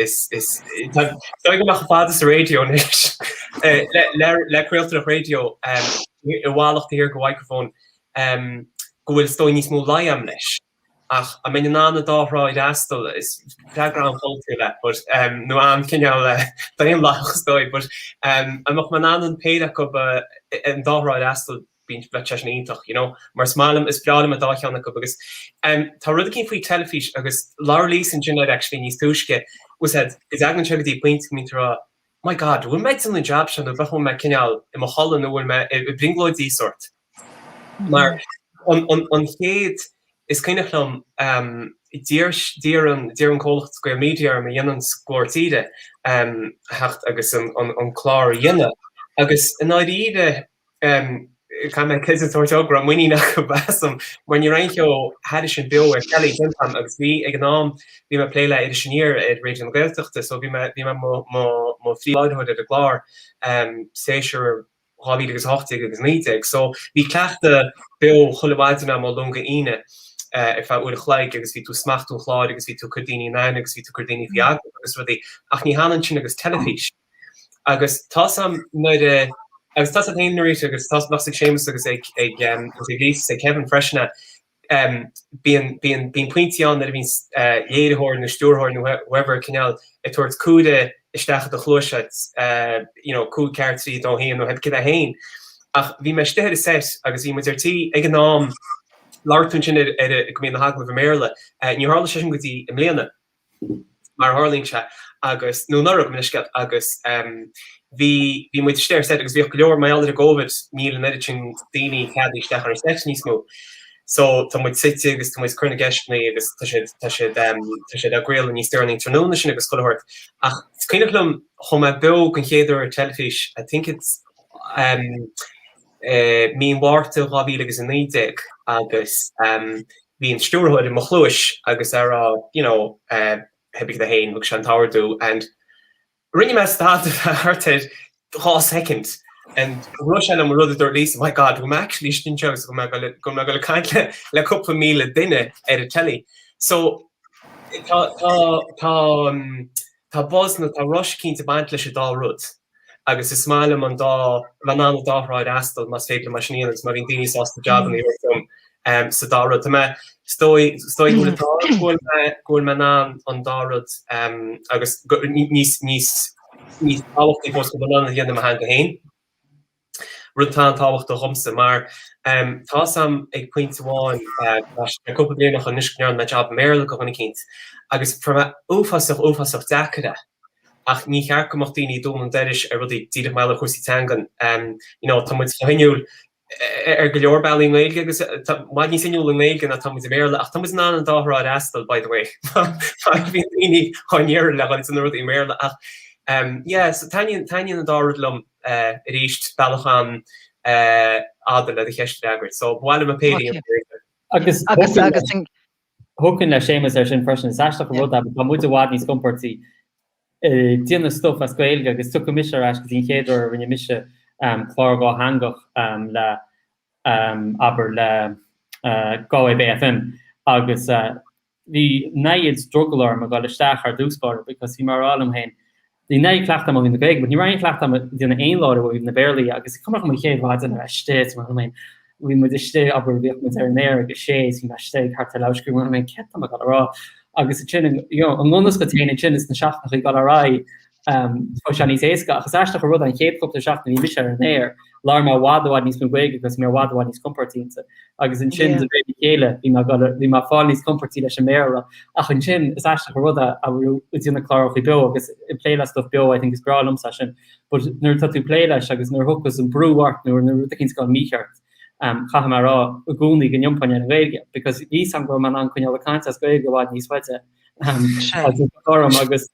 dóigh go bhfuil mé chomh fada sa raidió anois, le craoltóireacht raidió i bhfolach taobh thiar de mhicreafón go bhfuil is dóigh níos mó luí agam leis. Ach an mbeinn in ann an dá thrá a fhreastal? Is freagra an-pholaitiúil é but, em, nó an-chineál, eh, daonlathach is dóigh but, em, an mbeadh mé in ann an péire acu a, an dá thrá a fhreastal, bíonn, bheadh sé sin iontach, you know? Mar is maith liom, is breá liom an dá cheann acu agus, em, tá rud eicínt faoi teilifís agus labhair Lisa ansin air actually níos túisce, is dóigh, go dtagann sé go dtí pointe go mbíonn tú a' rá, my God, bhfuil mé ag déanamh an jab seo nó bheadh, bhfuil mé cineál i mo chodladh nó bhfuil mé i, i mbrionglóid de shórt. Mar an chéad, is cuimhneach liom d'iarr an comhlacht Gaelmedia orm a dhéananns Glór Tíre a theacht agus an clár a dhéanamh agus i ndáiríre caithfidh mé credit a thabhairt dóibh go raibh muinín acu asam mar ní raibh aon cheo thairis sin beo ar telly déanta a'm agus bhí ag an am, bhí mé ag plé le Iris Aniar ar Raidió na Gaeltachta so bhí mé, bhí mé mo phríomhláithreoir ar an gclár, séasúr 2018 agus 19. So, bhí cleachtadh beo chuile mhaidin agam ó Luan go hAoine ar feadh uair a chloig agus bhí tú ag smachtú an chláir agus bhí tú ag cur daoine in aithne agus bhí tú ag cur daoine faoi agallamh agus rudaí ach ní hionann sin agus teilifís. Agus tá's a'm nuair a, agus tá's a'd fhéin Norita agus tá's, bheadh 's ag Séamus agus ag, ag, ag Lisa 's ag Kevin freisin a, bíonn pointí ann nuair a bhíonns léiritheoir nó stiúrthóir nó whoever cineál ag tabhairt comhaireamh isteach i do chluais a'd you know cúig ceathair trí dó haon nó cibé céard é féin ach bhí mé istigh ar an set agus bhí muid ar tí ag an am labhair tú ansin ar go mbíonn na hagallaimh i mBéarla. Níor tharla sé sin go dtí i mbliana. mar a tharlaíonn sé, agus, nó anuraidh, gabh mo leithscéal, agus bhí, bhí muid istigh ar seit agus bhíodh go leor, mar gheall ar an gCovid, níl an oiread sin daoine ceadaithe isteach ar an seit níos mó. So, tá muid suite agus tá muid ag cur na gceisteannaí agus tá siad, tá siad, tá siad á gcraoladh níos deireanaí an tráthnóna sin agus chuile shórt. Ach is cuimhneach liom, chuaigh mé beo den chéad uair ar teilifís, I think it's eh, mí an Mhárta dhá mhíle agus a naoi déag agus bhí an stiúrthóir i mo chluais agus ag rá you know eh cibé céard é féin thug sé an t-ordú and rinne mé stad thart ar dhá soicind and rith sé liom an rud a dúirt Lisa my God bhfuil mé actually istigh anseo agus go mbeadh mé go mbeadh mé ag caint le le cúpla míle duine ar an telly so tá tá tá an tá buzz nó tá rush cinnte ag baint leis an dá rud. agus is maith liom an dá, an, an dá thrá a fhreastal más féidir liom é sin a dhéanamh agus má bhíonn daoine sásta jab a thabhairt dom sa dá rud. Tá mé, is dóigh, is dóigh go bhfuil atá go bhfuil mé, go bhfuil mé in ann an dá rud agus níos, níos, níos tábhachtaí fós go bhfuil mé in ann a dhéanamh i mo theanga féin. rud atá an-tábhachtach dhomsa, mar tá 's a'm ag pointe amháin, tá sé cúpla bliain anois anois go ndearna mé job i mBéarla do dhuine eicínt agus fuair mé uafásach uafásach deacair é ach níor cheart go mbeadh daoine ag dúnadh an doiris ar rudaí díreach mar gheall ar chúrsaí teangan, you know tá muid chomh hinniúil ar go leor bealaí i nGaeilge agus tá, i bhfad níos inniúla i nGaeilge ná atá muid i mBéarla ach tá muid in ann an dá thrá a fhreastal, by the way má bhíonn daoine á n-iarraidh le dhuine de na rudaí i mBéarla ach yeah so taitníonn, taitníonn an dá rud liom. arís bealach an-fhada le do cheist a fhreagairt so ba mhaith liom a bpléifí. Agus thiocfainn le Séamus ar sin freisin. Is aisteach an rud é but tá muid i bhfad níos compordaí ag déanamh stuif as Gaeilge agus tiocfaidh mise ar ais go dtí an chéad uair a rinne mise clár dátheangach le abair le Galway Bay FM agus bhí an oiread drogall orm a dhul isteach thar dtús báire because bhí mé a rá liom féin bhí an oiread cleachtadh agam ó thaobh na Gaeilge but ní raibh aon chleachtadh agam a dhéanamh aon chlár ó thaobh an Bhéarla dhe agus cuimhním an chéad mhaidin a raibh mé istigh is mar sin féin bhí muid istigh abair bhíodh muid ar an aer ag a sé is bhí mé istigh thart ar leath tar éis a trí mar sin féin céard tá mé a dhul a rá agus ansin you know an ngunna scaoilte ansin is na seachtannachaí ag dul ar aghaidh Tá sé níos éasca ach is aisteach an rud é an chéad chupla seachtain a bhí mise ar an aer, labhair mé i bhfad i bhfad níos mó Gaeilge agus bhí mé i bhfad i bhfad níos compordaí ansin. Agus ansin de réir a chéile bhí mé ag dul ar, bhí mé ag fáil níos compordaí leis an mBéarla. Ach ansin is aisteach an rud é nuair atá tú ag déanamh clárachaí beo agus ag plé le stuff beo, I think is breá liomsa é sin. But nuair atá tú ag plé leis agus nuair a thiocfas an brú ort nó nuair atá rud eicínt ag dul mícheart chaithfidh mé a rá i gcónaí go n-iompaím ar an nGaeilge because airím go bhfuil mé in ann coinneáil ag caint as Gaeilge i bhfad níos faide agus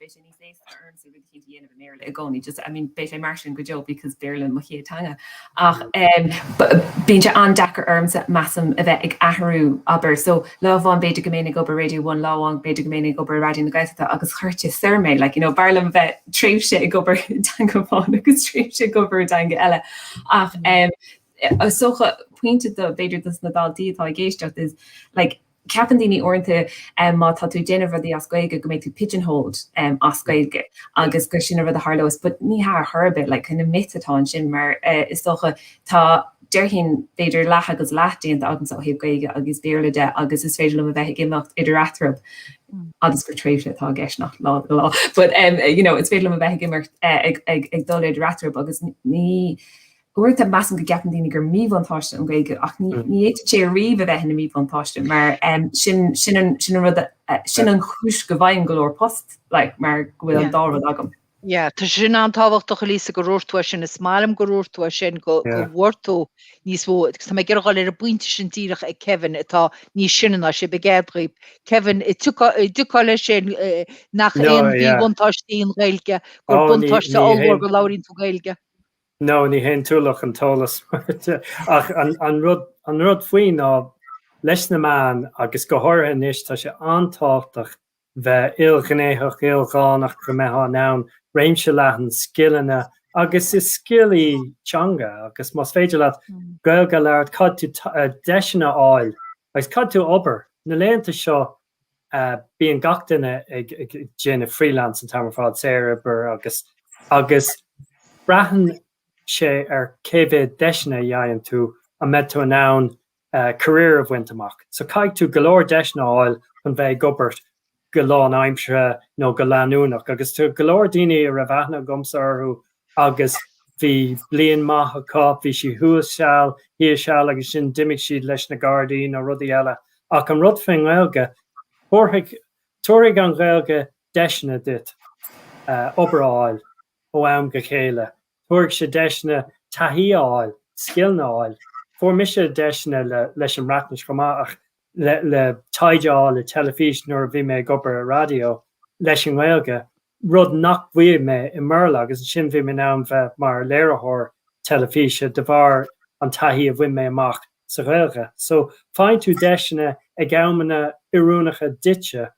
beidh sé níos éasca ormsa rud eicínt a dhéanamh i mBéarla i gcónaí just I mean beidh sé mar sin go deo because Béarla mo chéad teanga ach eh bíonn sé an-deacair ormsa measaim a bheith ag athrú abair so lá amháin b'fhéidir go mbeinn ag obair Radio One lá amháin b'fhéidir go mbeinn ag obair i Raidió na Gaeltachta agus cuireann sé as dom like you know b'fhearr liom a bheith tréimhse ag obair i dteanga amháin agus tréimhse ag obair i dteanga eile ach eh is dócha pointe do b'fhéidir dos na daltaí atá ag éisteacht is like Ceapann daoine uaireanta má tá tú ag déanamh rudaí as Gaeilge go mbeidh tú pigeonholed as Gaeilge agus gur sin an rud a tharlós but ní hea ar chor ar bith like kinda myth atá ansin mar is dócha tá déarfainn b'fhéidir leath agus leath déanta agamsa ó thaobh Gaeilge agus Béarla de agus is féidir liom a bheith ag imeacht idir eatarthu agus gur tréimhse atá i gceist nach lá go lá but um, you know, is féidir liom a bheith ag imeacht eh, ag, ag, ag dul idir eatarthu agus ní Uaireanta measaim go gceapann daoine gur míbhuntáiste an Ghaeilge ach ní fhéadfadh sé ariamh a bheith ina míbhuntáiste mar sin an rud sin an chúis go bhfaighim go leor post like mar go bhfuil an dá rud agam. Yeah, tá sé sin an-tábhachtach a Lisa go ndúirt tú é sin, is maith liom go ndúirt tú é sin, go bhfuair tú níos mó, agus tá mé ag iarraidh dul leis an bpointe sin díreach ag Kevin atá níos sine ná a sé fichead, ar ndóigh, Kevin, an dtiocfá leis sin nach aon mhíbhuntáiste í an Ghaeilge, gur buntáiste ollmhór go labhraíonn tú Gaeilge. No, ní haon ualach an t-eolas ach an rud faoi ná leis na meáin agus go háirithe anois tá sé an-tábhachtach bheith ilghnéitheach, ildhánach go mbeifeá in ann réimse leathan scileanna agus is scil í teanga agus más féidir leat Gaeilge a labhairt, tig leat deiseanna a fháil agus caithfidh tú obair. Na laethanta seo bíonn gach duine ag déanamh freelance an t-am ar fad, saorobair agus agus braitheann sé ar cé mhéad deiseanna a fhaigheann tú an mbeidh tú in ann career a bhaint amach. So caithfidh tú go leor deiseanna a fháil chun bheith ag obair go lán-aimseartha nó go leanúnach agus tá go leor daoine a raibh aithne agamsa orthu agus bhí bliain maith acu, bhí sé thuas seal, thíos seal agus sin d'imigh siad leis na Gardaí nó rudaí eile ach an rud faoin nGaeilge, tabharfaidh, tabharfaidh an Ghaeilge deiseanna duit obair a fháil ó am go chéile, tabharfaidh sé deiseanna taithí a fháil, scileanna a fháil, fuair mise deiseanna le, leis an mBreatnais chomh maith ach le, le taighde a fháil i dteilifís nuair a bhí mé ag obair i raidió leis an nGaeilge, rud nach bhfaighfidh mé i mBéarla agus ansin bhí mé in ann bheith mar léiritheoir teilifíse de bharr an taithí a bhain mé amach sa Ghaeilge. So faigheann tú deiseanna ag amanna oiriúnacha duitse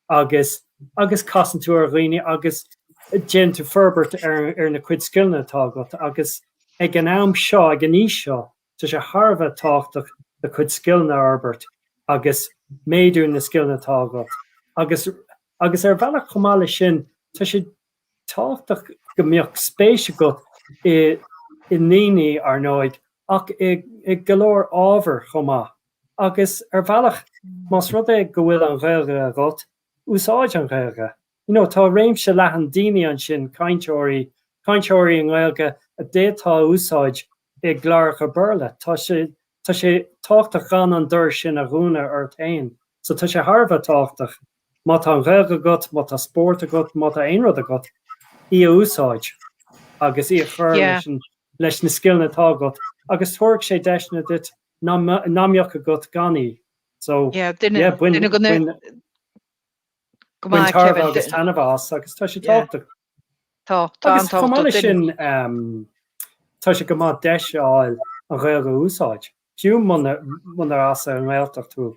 agus agus casann tú ar dhaoine agus déanann tú forbairt ar ar na cuid scileanna atá agat agus ag an am seo, ag an aois seo, Tá sé thar a bheith tábhachtach do chuid scileanna a fhorbairt agus méadú na scileanna atá agat agus agus ar bhealach chomh maith leis sin tá sé tábhachtach go mbeadh spéis agat i i ndaoine, ar ndóigh, ach i i go leor ábhair chomh maith. Agus ar bhealach más rud é go bhfuil an Ghaeilge agat, úsáid an Ghaeilge. You know, tá réimse leathan daoine ansin, cainteoirí, cainteoirí i nGaeilge a d'fhéadfá a úsáid i gcláracha Béarla. Tá sé, tá sé tábhachtach gan an doras sin a dhúnadh ort fhéin. So tá sé thar a bheith tábhachtach, má tá an Ghaeilge agat, má tá spórt agat, má tá aon rud agat, í a úsáid agus í a chur Yeah. leis an, leis na scileanna atá agat agus tabharfaidh sé deiseanna duit nach, nach mbeadh agat gan í. So Yeah, duine, yeah, bain, duine go na, bain. Go maith, Kevin. Bain tairbhe agus taitneamh as agus tá sé tábhachtach. Tá, tá an-tábhachtach. Agus chomh maith leis sin, tá sé go maith deis a fháil an Ghaeilge a úsáid. Fiú munar as an nGaeltacht thú,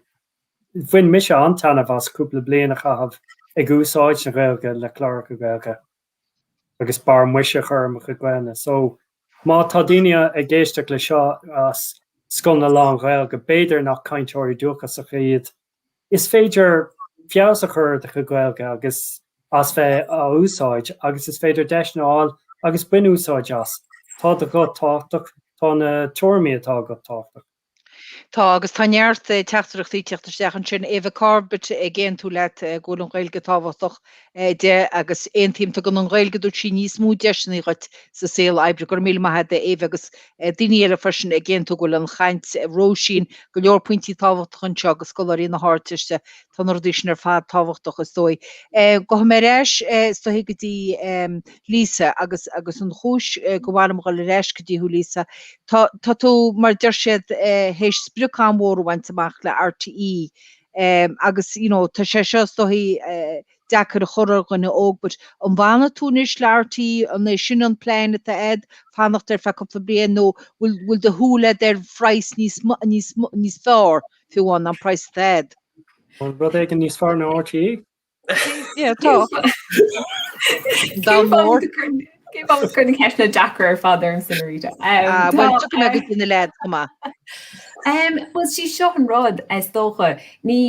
bhain mise an-taitneamh as cúpla bliain a chaitheamh ag úsáid na Gaeilge le cláracha Gaeilge agus barr maise a chur ar mo chuid Gaelainne. So, má tá daoine ag éisteacht leis seo as scoileanna lán-Ghaeilge, b'fhéidir nach cainteoirí dúchasacha iad, Is féidir feabhas a chur ar do chuid Gaeilge agus as bheith á úsáid agus is féidir deiseanna a fháil agus bain úsáid as. Tá do ghuth tábhachtach, tá na tuairimí atá agat tábhachtach. Tá, agus tá neart teachtaireachtaí ag teacht isteach ansin. Eva Corbett ag aontú leat go bhfuil an Ghaeilge tábhachtach de agus aontaím, tugann an Ghaeilge dúirt sí níos mó deiseannaí dhuit sa saol oibre go raibh míle maith ag Éabha agus daoine eile freisin ag aontú go bhfuil, an chaint Róisín go leor pointí tábhachtach anseo agus scoláirí na hArdteiste tá na rudaí sin ar fad tábhachtach is dóigh. Gabhfaidh mé ar ais is dóigh go dtí Lisa agus agus an chúis go bhfuil mé ag dul ar ais go dtí thú Lisa tá tá tú mar deir siad théis sprioc an-mhór a bhaint amach le RTÉ Ehm, agus, you know, tá sé seo, is dóigh, eh, deacair a chur ar dhuine óg, but an bhfanfaidh tú anois le RTÉ, an é sin an plean atá agat, fanacht ar feadh cúpla bliain, nó bhfuil, bhfuil do shúil agat ar phraghas níos, níos, níos fearr, fiú amháin ná an praghas atá agat? Rud éigin níos fearr ná RTÉ? Yeah, tá. Dá mór. Cén fáth go bhfuil na ceisteanna deacra ar fad ormsa, Norita? Ah, bhuel, tiocfaidh mé go dtí na leaids chomh maith. Bhuel, sí seo an rud, is dócha. Ní,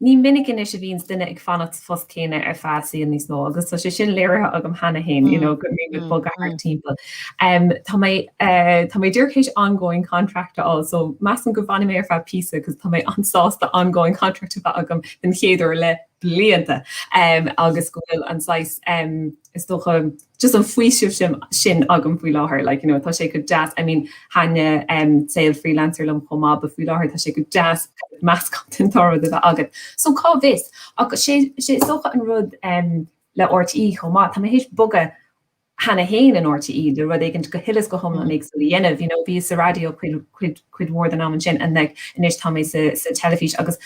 ní minic anois a bhíonns duine ag fanacht sa phost céanna ar feadh saoil níos mó agus tá sé sin léirithe agam cheana fhéin, you know, go mbím ag bogadh thart timpeall. Tá mé, eh, tá mé díreach théis ongoing contract a fháil so measaim go bhfanfaidh mé ar feadh píosa 'cause tá mé an-sásta ongoing contract a bheith agam don chéad uair le blianta agus go bhfuil an saghas is dócha just an faoiseamh sin agam faoi láthair like you know tá sé go deas I mean thaitin saol freelancer liom chomh maith but faoi láthair tá sé go deas meascán den dá rud a bheith agat. So cá bhfios? Ach is dócha an rud le RTÉ chomh maith tá mé théis bogadh cheana fhéin in RTÉ le rud éigin go huile is go hiomlán éagsúil a dhéanamh. You know bhíos sa raidió cuid, cuid, cuid mhór den am ansin and like anois tá mé sa, sa teilifís agus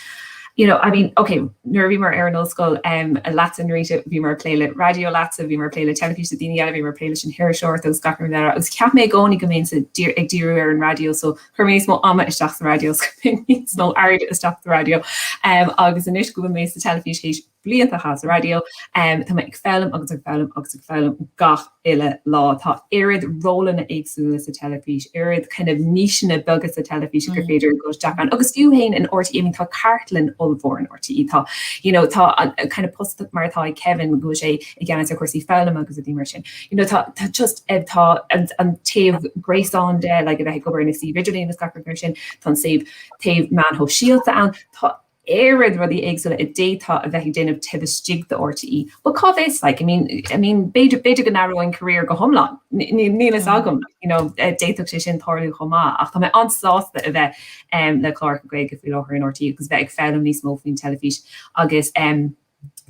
you know, I mean, okay, nuair a bhíomar ar an ollscoil em leatsa Norita bhíomar a' plé le raidió leatsa, bhíomar a' plé le teilifís le daoine eile, bhíomar a' plé leis an hiriseoireacht agus gach rud eile agus cheap mé i gcónaí go mbeinn sa, dír, ag díriú ar an raidió so chuir mé níos mó ama isteach sa raidió 's chuir mé níos mó airde isteach sa raidió em agus anois go bhfuil mé sa teilifís théis blianta a chaitheamh sa raidió. Tá mé ag foghlaim agus ag foghlaim agus ag foghlaim gach uile lá. Tá oiread rólanna éagsúla sa teilifís, oiread kind of níseanna beaga sa teilifís gur féidir a dhul isteach ann. Agus fiú fhéin in RTÉ, I mean tá cartlann ollmhór in RTÉ, tá you know tá an kind of post mar atá ag Kevin go bhfuil sé i gceannas ar chúrsaí foghlama agus rudaí mar sin. You know tá tá just eh, tá an, an taobh gréasán de like, a bheith ag obair ar an suíomh idirlín agus gach rud mar sin, tá an taobh, taobh meán sóisialta ann, tá oiread rudaí éagsúla a d'fhéadfá a bheith ag déanamh taobh istigh de RTÉ. But cá bhfios like, I mean, I mean, b'fhéidir, b'fhéidir go n-athróinn career go hiomlán. Níl, níl a fhios agam, like, you know, d'fhéadfadh sé sin tarlú chomh maith. Ach tá mé an-sásta a bheith, em, le cláracha Gaeilge faoi láthair in RTÉ agus bheith ag foghlaim níos mó faoin teilifís agus, em,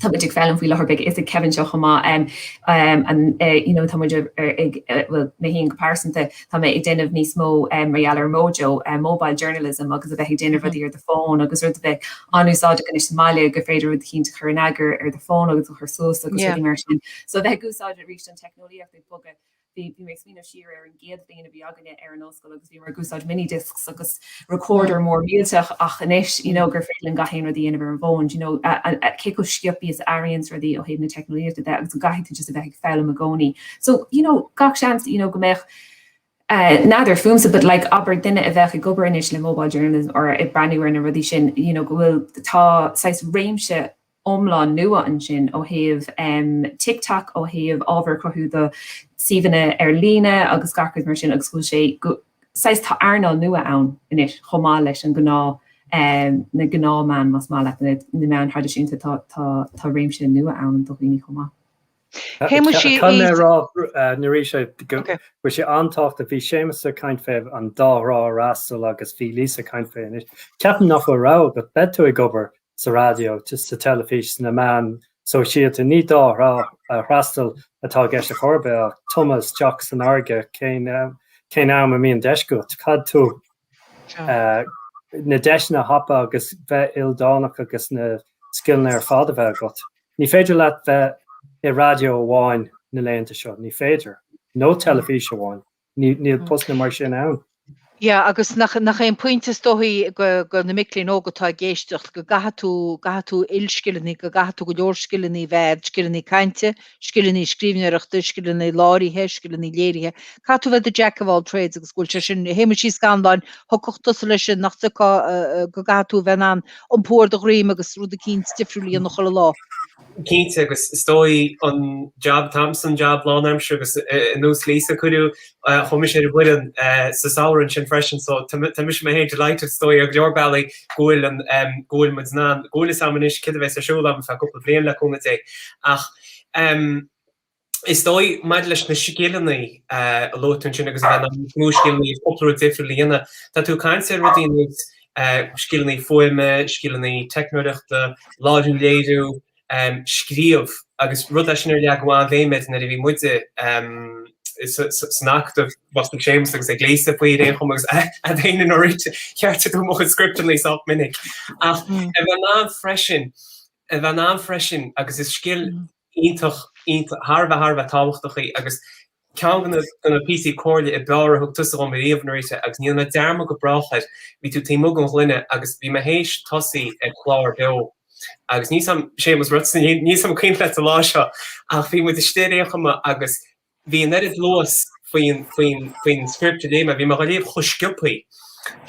Tá muid ag foghlaim faoi láthair beidh a fhios ag Kevin seo chomh maith um you know tá muid ag bhuel mé fhéin go pearsanta tá mé ag déanamh níos mó um mar gheall ar Mojo um mobile journalism agus a bheith ag déanamh rudaí ar do phone agus rud a bheadh an-úsáideach anois sa mbaile gur féidir rud eicínt a chur in eagar ar do phone agus é a chur suas agus rudaí mar sin so a bheith ag úsáid arís an teicneolaíocht ag bogadh Bhí mé ag smaoineamh siar ar an gcéad bhliain a bhí againne ar an ollscoil agus bhíomar ag úsáid mini discs agus recorder mór millteach ach anois you know gur féidir linn gach aon rud a dhéanamh ar an bhfón you know cé chomh sciobthaí is a athraíonns rudaí ó thaobh na teicneolaíochta de agus go gcaithfidh tú just a bheith ag foghlaim i gcónaí. So you know gach seans you know go mbeadh eh n'fheadar fúmsa but like abair duine a bheadh ag obair anois le mobile journalism or ag breathnú ar na rudaí sin you know go bhfuil tá saghas réimse iomlán nua ansin ó thaobh TikTok, ó thaobh ábhar a chruthú do shuíomhanna ar líne agus gach rud mar sin agus go bhfuil sé go, saghas, tá earnáil nua ann anois chomh maith leis na gnáth, na gnáthmheáin más maith leat, na meáin thraidisiúnta, tá réimse nua ann do dhaoine chomh maith. Caithfidh mé a rá arís go bhfuil sé an-tábhachtach. Bhí Séamus a' caint faoin dá thrá a fhreastal agus bhí Lisa a' caint faoi anois. Ceapaim nach bhfuil rogha agat, beidh tú ag obair sa raidió, sa teilifís, sna meáin shóisialta, ní dá thrá a fhreastal atá i gceist ar chor ar bith ach tumadh isteach san fharraige cén cén am a mbíonn deis agat, caithfidh tú na deiseanna a thapadh agus bheith ildánach agus na scileanna ar fad a bheith agat. Ní féidir leat bheith i radio amháin na laethanta seo, ní féidir, nó teilifís amháin, níl postanna mar sin ann. Yeah, agus nach, nach é an pointe is dóigh do, do na mic léinn óga atá ag éisteacht, go gcaithfidh tú, gcaithfidh tú ilscileanna, go gcaithfidh tú go leor scileanna a bheith agat, scileanna cainte, scileanna scríbhneoireachta, scileanna láithrithe, scileanna léirithe, caithfidh tú bheith do Jack of all trades agus go bhfuil sé sin, Shéamuis Uí Scanláin, thiocfadh tusa leis sin, nach dtiocfadh, go gcaithfidh tú bheith in ann iompú ar do dhroim agus rud eicínt difriúil a dhéanamh chuile lá. Cinnte, agus is dóigh an jab atá agamsa an jab lánaimseartha agus nós Lisa a cuireadh comhaois ar an bhfoireann sa samhradh sin freisin so tá mise mé féin delighted is dóigh ar go leor bealaí go bhfuil an go bhfuil muid in ann go bhfuil fhios agam anois céard a bheas ar siúl agam go ceann cúpla bliain le cúnamh Dé ach is dóigh, maidir leis na scileanna a luaigh tú ansin agus a bheith in ann níos mó scileanna nó cúpla rud difriúil a dhéanamh, tá tú ag caint ar rudaí nós scileanna fuaime, scileanna teicneoireachta, láithriú léiriú, scríobh agus rud leis sin ar leagadh an-bhéim air nuair a bhí muide san acadamh, beidh a fhios ag Séamus agus ag Lisa faoi ar aon chuma agus iad a bhíonn ag ceartú mo chuid scripteanna sách minic ach a bheith in ann freisin, a bheith in ann freisin agus is scil. iontach, iontach, thar a bheith, thar a bheith tábhachtach í agus ceann de na, de na píosaí comhairle ab fhearr a thug tusa dhom ariamh, Norita, agus ní dhéanfaidh mé dearmad go brách air. Bhí tú taobh amuigh den ghloine agus bhí mé théis tosaí ar chlár beo agus níl 's a'm, Séamus rud, níl 's a'm an cuimhin leat an lá seo ach bhí muid istigh ar aon chuma agus bhí an oiread luas faoin, faoin, faoin script a léigh mé, bhí mé dhá léamh chomh sciopthaí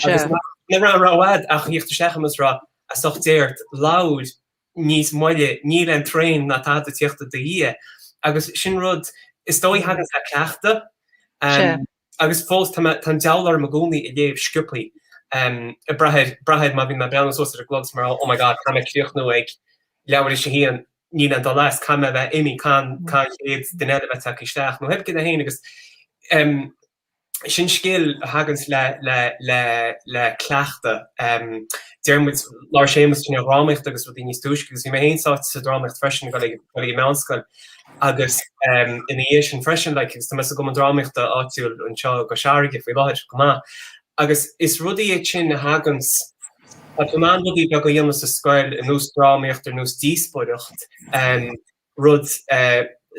agus ní raibh, ní raibh a'd ach a thíocht isteach a'm agus a rá, as ucht Dé ort, labhair. níos moille, níl aon traen ná tada ag tíocht i do dhiaidh agus sin rud is dóigh a thaganns le cleachtadh agus fós tá mé, tá an deabhal orm i gcónaí ag léamh sciopthaí ag brath air, brath air má bhíonn mé ag breathnú suas ar an gclog is mar oh my god caithfidh mé críochnú ag leathuair théis a haon, níl aon dul as, caithfidh mé a bheith imithe, caithfidh an chéad duine eile a bheith tagtha isteach nó cibé céard é féin agus em. sin scil a thaganns le, le, le, le cleachtadh. Déarfaidh muid labhair Séamus ansin ar dhrámaíocht agus rudaí níos túisce agus bhí mé féin sáite sa drámaíocht freisin go go meánscoil agus ina dhiaidh sin freisin like, agus tá mé sa gcumann drámaíochta áitiúil anseo i gCois Fharraige faoi láthir go maith agus is rudaí iad sin a thaganns, tá tú in ann rudaí beaga a dhéanamh sa scoil ar nós drámaíocht ar nós díospóireacht um, rud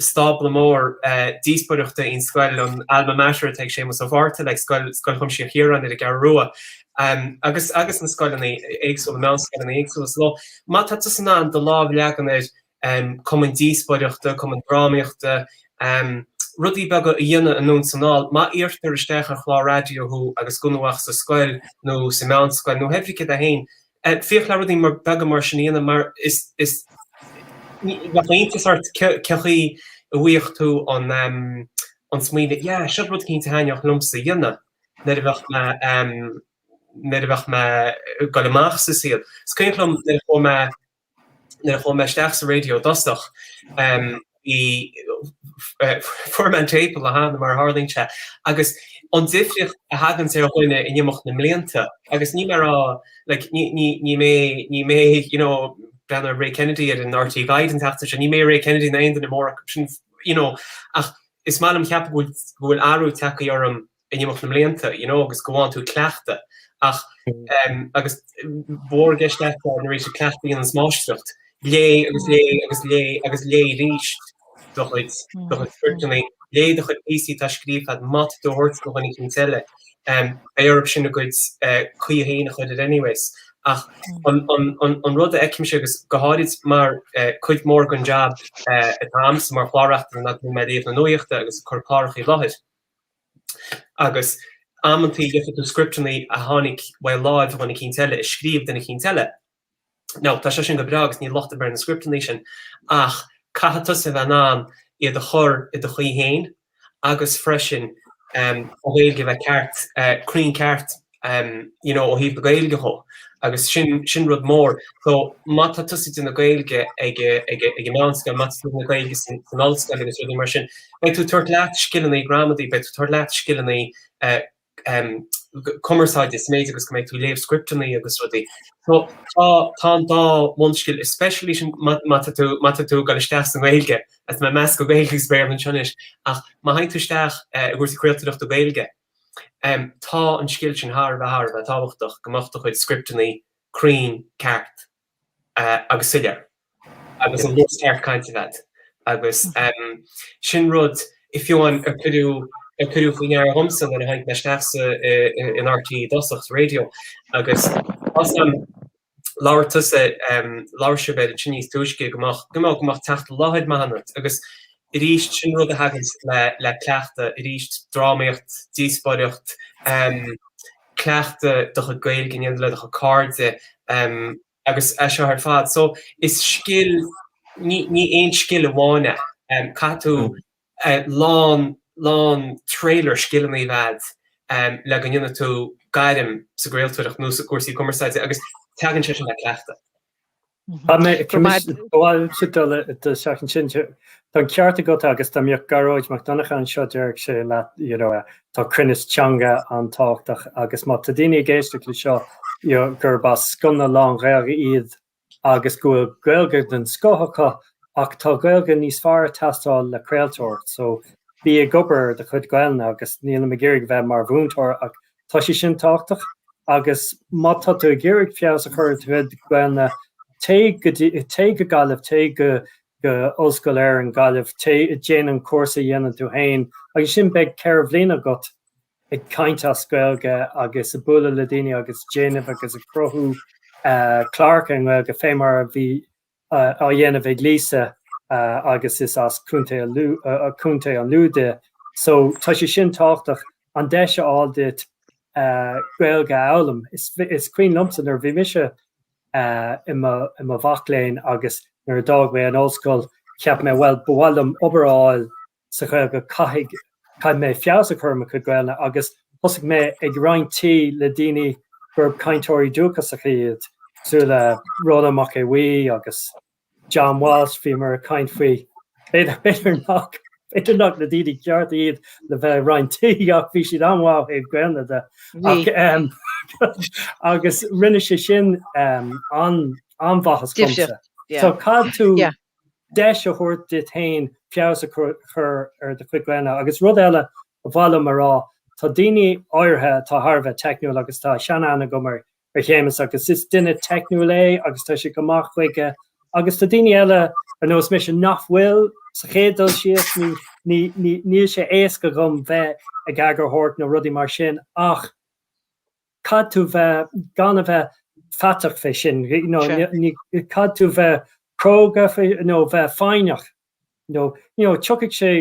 stábla mór díospóireachta í an scoil, an alma mater atá ag Séamus Ó Mhárta le, Scoil Chuimsitheach Chiaráin ar an gCeathrú Rua, agus agus na scoileanna éagsúla, meánscoileanna éagsúla sa lá. Má tá tusa in ann do lámh a leagan ar cumainn díospóireachta, cumainn drámaíochta, rudaí beaga a dhéanamh anonn is anall, má iarrtar isteach ar chlár raidió thú agus gan thú ach sa scoil nó sa meánscoil nó cibé céard é féin F, Féach le rudaí mar, beaga mar sin a dhéanamh mar is, is, bheadh iontas ort cén chaoi a bhfaigheadh tú an, an smaoineamh yeah, seo rud cinnte a thaitneodh liomsa a dhéanamh nuair a bheadh mé, nuair a bheadh mé ag goil amach sa saol. Is cuimhin liom nuair a chuaigh mé. nuair a chuaigh mé isteach sa raidió i dtosach bhí fuair mé an téip an lá cheana mar a tharlaíonn sé agus an difríocht a thaganns ar dhuine in imeacht na mblianta agus níl mé ag rá like ní ní ní mé ní mé you know breathnaigh ar Ray Kennedy ar an RTÉ Guide an tseachtain seo ní mé Ray Kennedy ná aon duine mór acu sin you know ach is maith liom ceapadh go bhfuil go bhfuil athrú tagtha orm in imeacht na mblianta you know agus go bhfághann tú cleachtadh ach em agus mhór i gceist leat an arís cleachtadh a dhéananns máistreacht léigh agus léigh agus léigh agus léigh arís do chuid do chuid scripteanna léigh do chuid píosaí atá scríofa agat má tá tú dhá dtabhairt do dhuine eicínt eile em beidh orthu sin a gcuid eh, caoi féin a chur air anyways ach an, an, an, an rud a fheicimse agus go háirid mar eh, cuid mór gon jab eh, atá a'msa mar chlár-reachtaire ná a bheith ag léamh na nuachta agus ag cur clárachaí i láthair Agus amantaí léifidh tú scripteanna a tháinig, bhuel ó láimh dhuine eicínt eile, a scríobh duine eicínt eile. Now, tá sé sin go breá agus níl locht ar bith ar na scripteanna sin ach caithfidh tusa a bheith in ann iad a chur i do chaoi fhéin agus freisin an Ghaeilge a bheith ceart, cruinn ceart. you know ó thaobh na Gaeilge dhó agus sin sin rud mór. So má tá tusa ag déanamh Gaeilge ag ag an meánscoil má tá tú ag déanamh Gaeilge san ollscoil agus rudaí mar sin beidh tú ag tabhairt leat scileanna gramadaí beidh tú ag tabhairt leat scileanna eh cumarsáide is méid agus go mbeidh tú ag léamh scripteanna agus rudaí. So tá tá an dá bhunscil speisialta sin má má tá tú má tá tú ag dul isteach sa nGaeilge agus le meas do Gaeilge is Béarla anseo anois ach má thagann tú isteach eh i gcúrsaí craoltóireachta Gaeilge Tá an scil sin thar a bheith thar a bheith tábhachtach, go mbeadh do chuid scripteannaí cruinn, ceart agus soiléir agus an luas ceart cainte agat agus sin rud fiú amháin ar cuireadh ar cuireadh faoi ndear dhomsa nuair a tháinig mé isteach sa in RTÉ i dtosach, sa raidio agus Osgur. labhair tusa, labhair sibh beirt ansin níos túisce, go mbeadh, you know, go mbeadh teacht i láthair maith ionat agus arís sin rud a thaganns le, le cleachtadh arís, drámaíocht, díospoireacht, cleachtadh do chuid Gaeilge a dhéanamh le do chuid cairde agus é seo ar fad so is scil, ní, ní aon scil amháin é, caithfidh tú lán, lán trailer scileanna a bheith agat le go ndéanfaidh tú gairm sa gcraoltóireacht nó sna cúrsaí cumarsáide agus teagann sé sin le cleachtadh. Tá mé i gceist gabháil sa dole i do theach ansin. Tá an ceart agat agus dá mbeadh Gearóid Mac Donncha anseo déarfadh sé leat you know tá cruinneas teanga an-tábhachtach agus má tá daoine ag éisteacht leis seo you know gurb as scoileanna lán-Ghaeilge iad agus go bhfuil Gaeilge den scoth acu ach tá Gaeilge níos fearr ag teastáil le craoltóireacht so bí ag obair ar do chuid Gaelainne agus nílim ag iarraidh a bheith mar mhúinteoir ach tá sé sin tábhachtach agus má tá tú ag iarraidh feabhas a chur ar do chuid Gaelainne téigh go dtí téigh go Gaillimh téigh go go Ollscoil na hÉireann Gaillimh téigh déan an cúrsa a dhéanann tú féin agus ansin beidh ceithre bhliana agat ag caint as Gaeilge agus ag bualadh le daoine agus déanamh agus ag cruthú cláracha i nGaeilge fé mar a bhí á dhéanamh ag Lisa agus is as Contae an Lú di so tá sé sin tábhachtach an deis a fháil duit Gaeilge a fhoghlaim. Is cuimhin liomsa nuair a bhí mise i mo mhac léinn agus nuair a d'fhág mé an ollscoil cheap mé bhuel ba mhaith liom obair a fháil sa Ghaeilge caithfidh, caithfidh mé feabhas a chur ar mo chuid Gaelainne agus thosaigh mé ag roinnt tí le daoine gurb cainteoirí dúchasacha iad cosúil le Rónán Mac Aodha Bhuí agus John Walsh, bhíomar ag caint faoi, b'fhéidir, b'fhéidir nach, b'fhéidir nach na daoine cearta iad le bheith ag roinnt tí ach bhí siad an-mhaith ó thaobh Gaelainne de Bhí. ach ehm agus rinne sé sin ehm an, an-mhaitheas dhomsa. Difríocht, yeah. So caithfidh tú, Yeah. deis a thabhairt duit féin feabhas a chur ar do chuid Gaelainne. Agus rud eile ba mhaith liom a rá, tá daoine áirithe atá thar a bheith teicniúil agus tá sean-aithne agam ar Shéamus agus is duine teicniúil é agus tá sé go maith chuige agus tá daoine eile ar nós mise nach bhfuil, sa chéad dul síos, níl sé éasca dhom bheith ag eagarthóireacht nó rudaí mar sin ach. caithfidh tú bheith gan a bheith faiteach fé sin you know Sure. ní caithfidh tú bheith cróga fé nó bheith foighneach nó you know tiocfaidh sé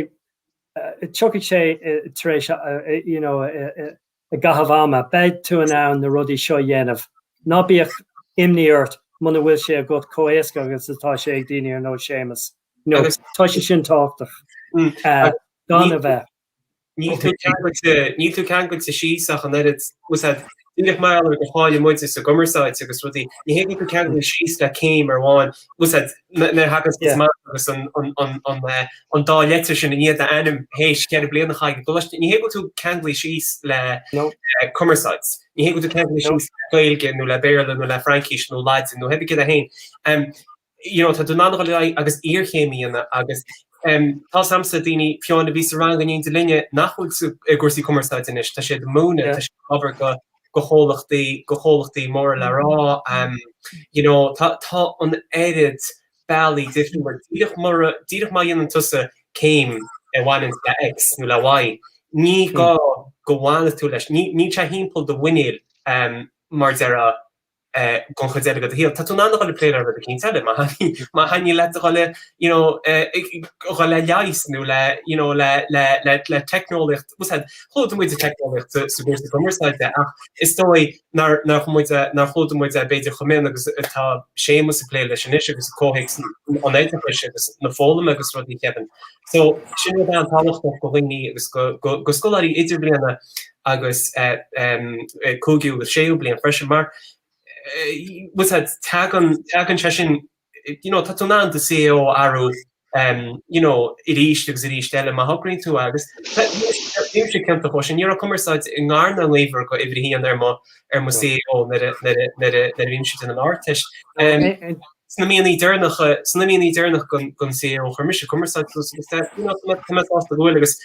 eh, tiocfaidh sé eh, tar éis a- a- a- you know eh, eh, eh, i gcaitheamh ama beidh tú in ann na rudaí seo a dhéanamh ná bíodh imní ort muna bhfuil sé agat comh éasca agus atá sé ag daoine ar nós Séamus you know Agus- tá sé sin tábhachtach Mm, eh, gan ní- a bheith Níl tú ceangailte síos ach an oiread. Bhfuil fhios agat díreach mar gheall gur cháiligh muid sa gcumarsáid agus rudaí. Ní hé go bhfuil tú ceangailte síos le céim amháin. Bhfuil fhios agat má thagann tusa amach agus an dá leitir sin i ndiaidh do ainm théis cheithre bliain a chaitheamh i gcoláiste. Ní hé go bhfuil tú ceangailte síos le cumarsáid. Ní hé go bhfuil tú ceangailte síos le Gaeilge nó le Béarla nó le Fraincis nó Laidin nó cibé céard é féin. you know, tá tú in ann a ghoil ar aghaidh agus iarchéim a dhéanamh agus em tá's agamsa daoine fiú amháin a bhí sa rang in éindí linne nach bhfuil sa i gcúrsaí cumarsáide anois, tá siad ag múineadh, tá siad ag obair do do chomhlachtaí do chomhlachtaí móra le rá em you know, tá tá an oiread bealaí difriúla mar díreach mura díreach má dhéanann tusa céim a bhaineanns le X nó le Y ní gá go bhfanfadh tú leis, ní níl sé thimpeall do mhuiníl em mar a déarfá don chuid eile de do shaol. Tá tú in ann a dhul ag plé le rud eicínt eile, má thaitníonn leat a dhul a you know a dhul le leigheas nó le you know le le le le teicneolaíocht. Bhfuil fhios agat? Chlúdaigh muid an teicneolaíocht sa gcúrsa cumarsáide ach is dóigh nár nár chum muid nár chlúdaigh muid é b'fhéidir chomh mion agus atá Séamus ag plé leis anois i gcomhthéacs an oideachais agus na foghlama agus rudaí ceapaim. So sin rud an-tábhachtach do dhaoine agus do do do scoláirí idirbhliana agus cúigiú agus séú bliain freisin mar teagann sé sin you know tá tú in ann do CAO a athrú you know arís agus arís eile má thograíonn tú é agus bhí mise ciontach ó sin ní raibh cumarsáid i ngar ná i ngaobhar do uimhir a haon ar mo CAO nuair a bhí mise ag déanamh an Ardteist. Sna míonna deireanacha, sna míonna deireanacha don CAO chuir mise cumarsáid suas agus tá mé tá mé sásta go bhfuil agus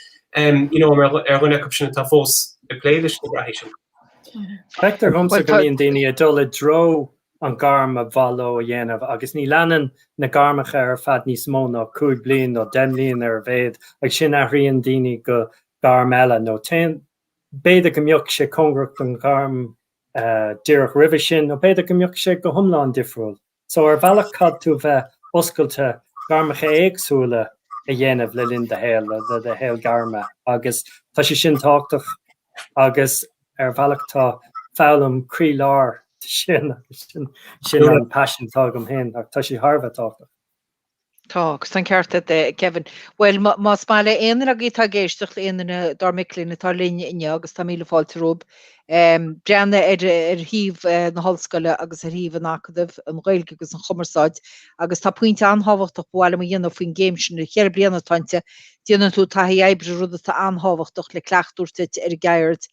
you know mar ar dhuine acu sin atá fós ag plé leis na bealaí sin. Feictear dhomsa go mbíonn daoine ag dul i dtreo an gairm ar mhaith leo a dhéanamh agus ní leanann na gairmeacha ar fad níos mó ná cúig bliain nó deich mbliain ar a mhéad agus ansin athraíonn daoine go gairm eile nó téann b'fhéidir go mbeadh sé cóngarach don ghairm díreach roimhe sin, nó b'fhéidir go mbeadh sé go hiomlán difriúil. So ar bhealach caithfidh tú bheith oscailte gairmeacha éagsúla a dhéanamh le linn do shaol, le do shaol gairme agus tá sé sin tábhachtach agus ar bhealach tá foghlaim croílár de sin agus sin an passion atá agam féin ach tá sé thar a bheith tábhachtach. Tá, agus tá an ceart agat a Kevin. Bhuel, más maith le aon duine agaibh atá ag éisteacht, aon duine dár mic léinn atá linn inniu, agus tá míle fáilte romhaibh, breathnaigh ar ar shuíomh na hOllscoile agus ar shuíomh an Acadaimh, An Ghaeilge agus an Chumarsáid, agus tá pointe an-tábhachtach ba mhaith liom a dhéanamh faoin gcéim sin, ceithre bliana atá inti, déanann tú taithí oibre, rud atá an-tábhachtach le cleachtadh a thabhairt duit ar an gceird,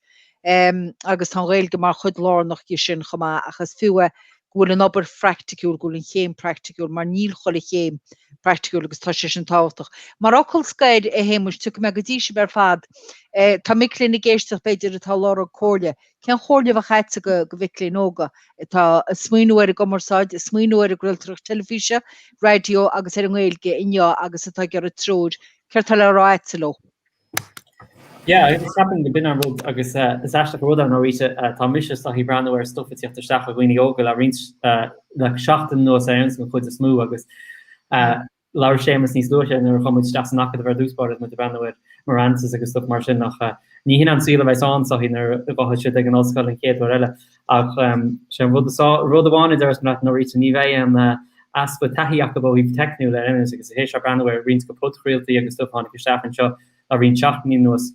agus tá an Ghaeilge mar chuid lárnach di sin chomh maith, ach is fiú é go bhfuil an obair phraicticiúil, go bhfuil an chéim praicticiúil, mar níl chuile chéim praicticiúil agus tá sé sin tábhachtach. Mar fhocal scoir, a Shéamuis, tiocfaidh mé go dtí sib ar fad. Tá mic léinn ag éisteacht b'fhéidir atá ag lorg comhairle. Cén chomhairle a bheadh a'tsa go mhic léinn óga atá ag smaoineamh ar an gcumarsáid, ag smaoineamh ar an gcraoltóireacht teilifíse, raidió agus ar an nGaeilge inniu agus atá ag iarraidh treoir, céard tá le rá a'tsa leo? Yeah, agus ceapaim go b'in an rud agus is aisteach an rud é, ar ndóigh tá mise isteach ag breathnú ar stuif ag tíocht isteach ó dhaoine óga le roinnt, le seachtain anuas ar an gcuid is mó agus labhair Séamus níos luaithe nuair a chuaigh muid isteach san Acadamh ar dtús báire is muid ag breathnú ar Marantz agus stuif mar sin ach ní hin an saol a bheas ann, tá's a't, nuair a bheas siad ag an ollscoil an chéad uair eile. Ach sin rud amháin. Rud amháin a deireas mé leat Norita, ní bheidh aon easpa taithí acu ó thaobh teicniúil de anois agus a théis a bheith ag breathnú ar roinnt go podchraoltaí agus stuff a tháinig isteach anseo le roinnt seachtainí anuas.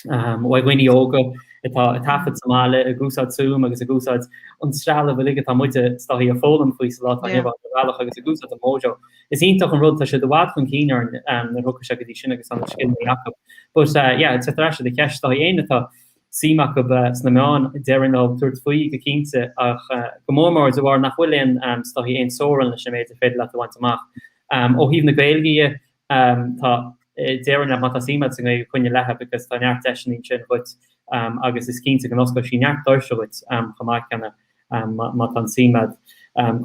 Ó dhaoine óga atá ag taifead sa mbaile ag úsáid Zoom agus ag úsáid an trealamh uilig atá muide tá's a't ag foghlaim faoi sa lá atá inniu ann ar bhealach agus ag úsáid an Mojo. Is iontach an rud, tá siad i bhfad chun cinn orainn nuair a thagann sé go dtí sin agus tá na scileanna acu. But yeah, le dhul ar ais go dtí do cheist, tá's a't éinne atá suim acu sna meáin. Déarfainn leo tabhairt faoi go cinnte ach go mór mór de bharr nach bhfuil aon tá's a't, aon teorann leis an méid ar féidir leat a bhaint amach. Ó thaobh na Gaeilge dhe tá, déarfainn leat má tá suim a'd sa nGaeilge coinnigh léi because tá neart deiseanna ansin dhuit agus is cinnte go n-osclóidh sí neart doirse dhuit chomh maith céanna. má tá an suim a'd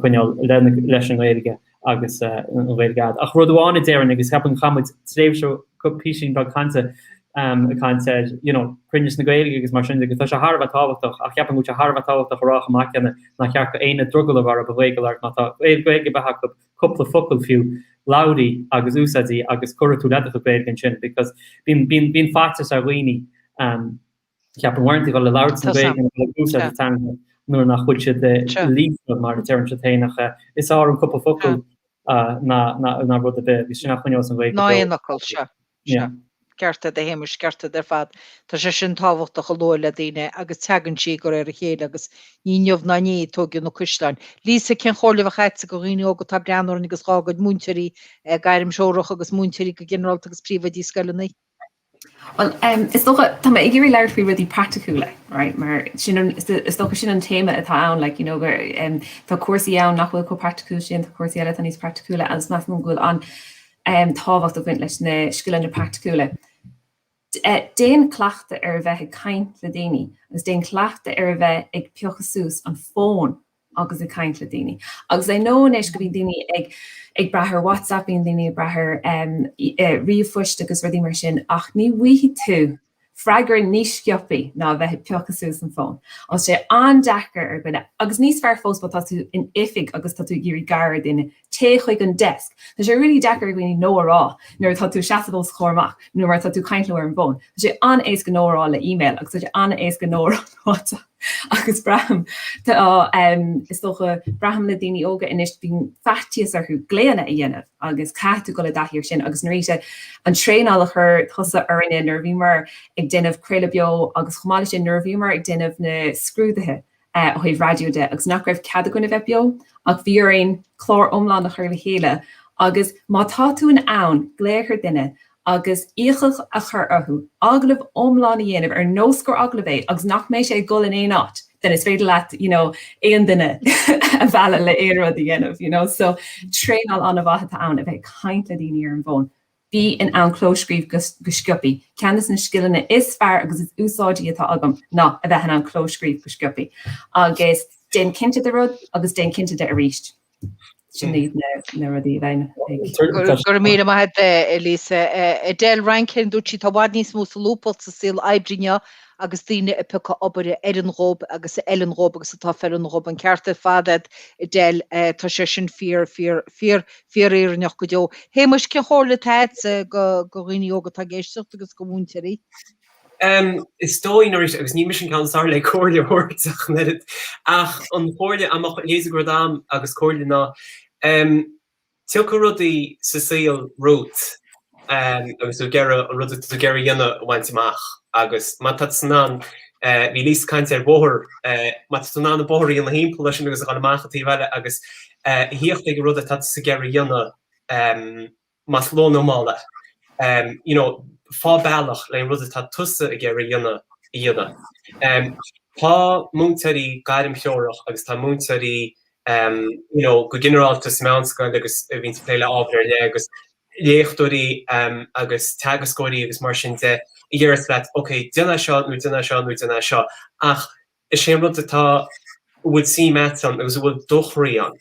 coinneáil leis an nGaeilge agus an Ghaeilge a'd. Ach rud amháin a déarfainn agus ceapaim gur chaith muid tréimhse písín beag cainte a chaint ar you know cruinneas na Gaeilge agus mar sin de agus tá sé thar a bheith tábhachtach ach ceapaim go bhfuil sé thar a bheith tábhachtach a rá chomh maith céanna nach ceart go aon drogall a bheith ar Ghaeilgeoir agus má tá Gaeilge ar bith a'd cúpla focal fiú labhair í agus úsáid í agus cuirfidh tú le do Ghaeilge ansin because bíonn faitíos ar dhaoine ceapaim uaireanta dul ag labhairt na Gaeilge nó dul ag úsáid na teanga nuair nach bhfuil siad líofa mar a deireann siad féin ach is fearr an cúpla focal ná rud ar bith agus sin a choinneoidh an Ghaeilge beo. Ná aon fhocal, sea, sea. Ceart a'd a Shéamuis, ceart a'd ar fad. Tá sé sin tábhachtach a lua le daoine agus teagann sí de réir a chéile agus ní inniu ná inné a tóigeadh na cuisleáin. Lisa, cén chomhairle a bheadh a'dsa go dhaoine óga atá ag breathnú orainn agus dhá gcuid múinteoirí gairmthreorach agus múinteoirí go ginearálta agus príomhoidí scoileanna? Bhuel, is dócha, tá mé ag iarraidh labhairt faoi rudaí praiticiúla, right, mar sin an, is dócha sin an téama atá ann, like, you know, gur, em, tá cúrsaí ann nach bhfuil chomh praiticiúil sin, tá cúrsaí eile atá níos praiticiúla agus measaim go bhfuil an, em, tábhacht ag baint leis na scileanna praiticiúla. Eh, déan cleachtadh ar a bheith ag caint le daoine, agus déan cleachtadh ar a bheith ag piocadh suas an fóin agus ag caint le daoine. Agus I know anois go mbíonn daoine ag ag brath ar WhatsApp, bíonn daoine ag brath ar em eh ríomhphoist agus rudaí mar sin ach ní bhfuighidh tú freagra níos sciopthaí ná a bheith ag piocadh suas an fóin. Tá sé an-deacair ar dhuine, agus níos fearr fós má tá tú in oifig agus tá tú ag iarraidh gar ar duine, Téigh chuig an desk. Tá sé really deacair ar dhuine No a rá nuair atá tú ag seasamh os a chomhair amach nó nuair atá tú ag caint leo ar an bhfón. Tá sé an-éasca No a rá le email agus tá sé an-éasca No a rá ar WhatsApp. Agus braithim, tá em, is dócha, braithim le daoine óga anois bíonn faitíos orthu glaonna a dhéanamh agus caithfidh tú dul i dtaithí ar sin agus Norita, an traenáil a chuir tusa orainne nuair a bhíomar ag déanamh craoladh beo agus chomh maith le sin nuair a bhíomar ag déanamh na scrúdaithe ó thaobh raidió de agus nach raibh cead againn a bheith beo ach bhí orainn clár iomlán a chur le chéile agus má tá tú in ann glaoch ar dhuine agus iachall a chur orthu agallamh iomlán a dhéanamh ar nós gur agallamh é agus nach mbeidh sé ag dul in aon áit then is féidir leat you know aon duine a mhealladh le aon rud a dhéanamh you know so traenáil an-mhaith atá ann a bheith ag caint le daoine ar an bhfón Bí in ann clóscríobh go sciopthaí. Ceann des na scileanna is fearr agus is úsáidí atá agam ná a bheith in ann clóscríobh go sciopthaí. Agus déan cinnte de rud agus déan cinnte de arís. Sin iad na rudaí a bheinn ag. Go raibh míle maith agat Lisa. Edel Rankin, dúirt sí, Tá i bhfad níos mó solúbthacht sa saol oibre inniu agus daoine ag piocadh obair a oireann dhóib agus a fheileann dhóib agus atá feiliúnach dhóib. An ceart ar fad agat, Edel, tá sé sin fíor, fíor, fíor, fíorfhírinneach go deo. A Shéamuis, cén chomhairle atá agat go dhaoine óga atá ag éisteacht agus go mhúinteoirí? Em, is dóigh, ná raibh, agus ní mise an ceann is fearr le comhairle a thabhairt ach an oiread, ach an chomhairle má tá a leithéide de rud a'm agus comhairle ná, em, Tiocfaidh rudaí sa saol romhat agus tú ag iarraidh an rud atá tú ag iarraidh a dhéanamh a bhaint amach agus má tá tú in ann, bhí Lisa ag caint ar bhóthar, má tá tú in ann an bóthar a dhéanamh thimpeall air sin agus a dhul amach an taobh eile agus a thíocht ag an rud atá tusa ag iarraidh a dhéanamh, más luath nó mall é, you know, faigh bealach le an rud atá tusa ag iarraidh a dhéanamh a dhéanamh. Tá múinteoirí gairmthreorach agus tá múinteoirí. you know go ginearálta sa mheánscoil agus a bhíonns ag plé le ábhair ar leith agus léachtóirí agus teagascóirí agus mar sin de a déarfas leat ok déan é seo nó déan é seo nó déan é seo ach is é an rud atá a bhfuil suim a'at ann agus a bhfuil do chroí ann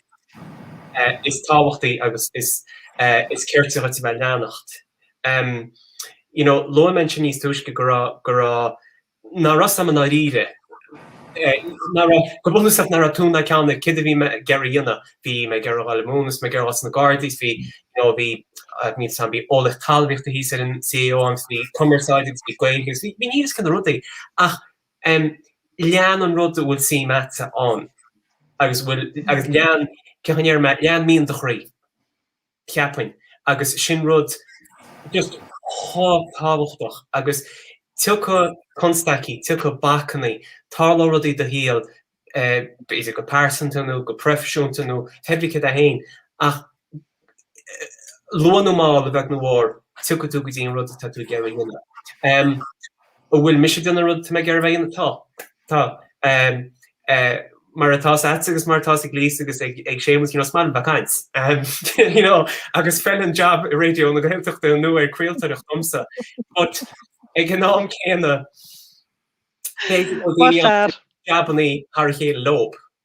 is tábhachtaí agus is is cirte dhuit a bheith a leanacht. You know luaigh mé ansin níos túisce go raibh go raibh ná raibh 's agam i ndáiríre eh, go bunúsach ná raibh tóin ná ceann ar céard a bhí mé ag iarraidh a dhéanamh. Bhí mé ag iarraidh a dhul ag múineadh, is mé ag iarraidh a dhul sna Gardaí, 's bhí, you know, bhí, I mean, tá, bhí eolaíocht talmhaíochta thíos ar an CAO a'm, 's bhí cumarsáid agus bhí Gaeilge agus bhí, bhí níl 's cén rudaí ach, em, lean an rud a bhfuil suim a'dsa ann agus a bhfuil, agus lean, cén chaoi a ndéarfaidh mé, lean mian do chroí. cheapfainn agus sin rud just chomh tábhachtach agus tiocfaidh constaicí, tiocfaidh bacainní, tarlóidh rudaí i do shaol, b'fhéidir go pearsanta nó go proifisiúnta nó cibé céard é fhéin ach luath nó mall a bheag nó a mhór tiocfaidh tú go dtí an rud atá tú ag iarraidh a dhéanamh. An bhfuil mise ag déanamh an rud atá mé ag iarraidh a bheith a dhéanamh? Tá. Tá. Mar atá 's a'tsa agus mar atá 's ag Lisa agus ag Séamus, you know, 's maith liom bheith caint. You know, agus feileann jab i Raidió na Gaeltachta nó ag craoltóireacht dhomsa. But ag an am céanna, cé go bhfuil daoine ann a bhfuil jabannaí thar a chéile leob,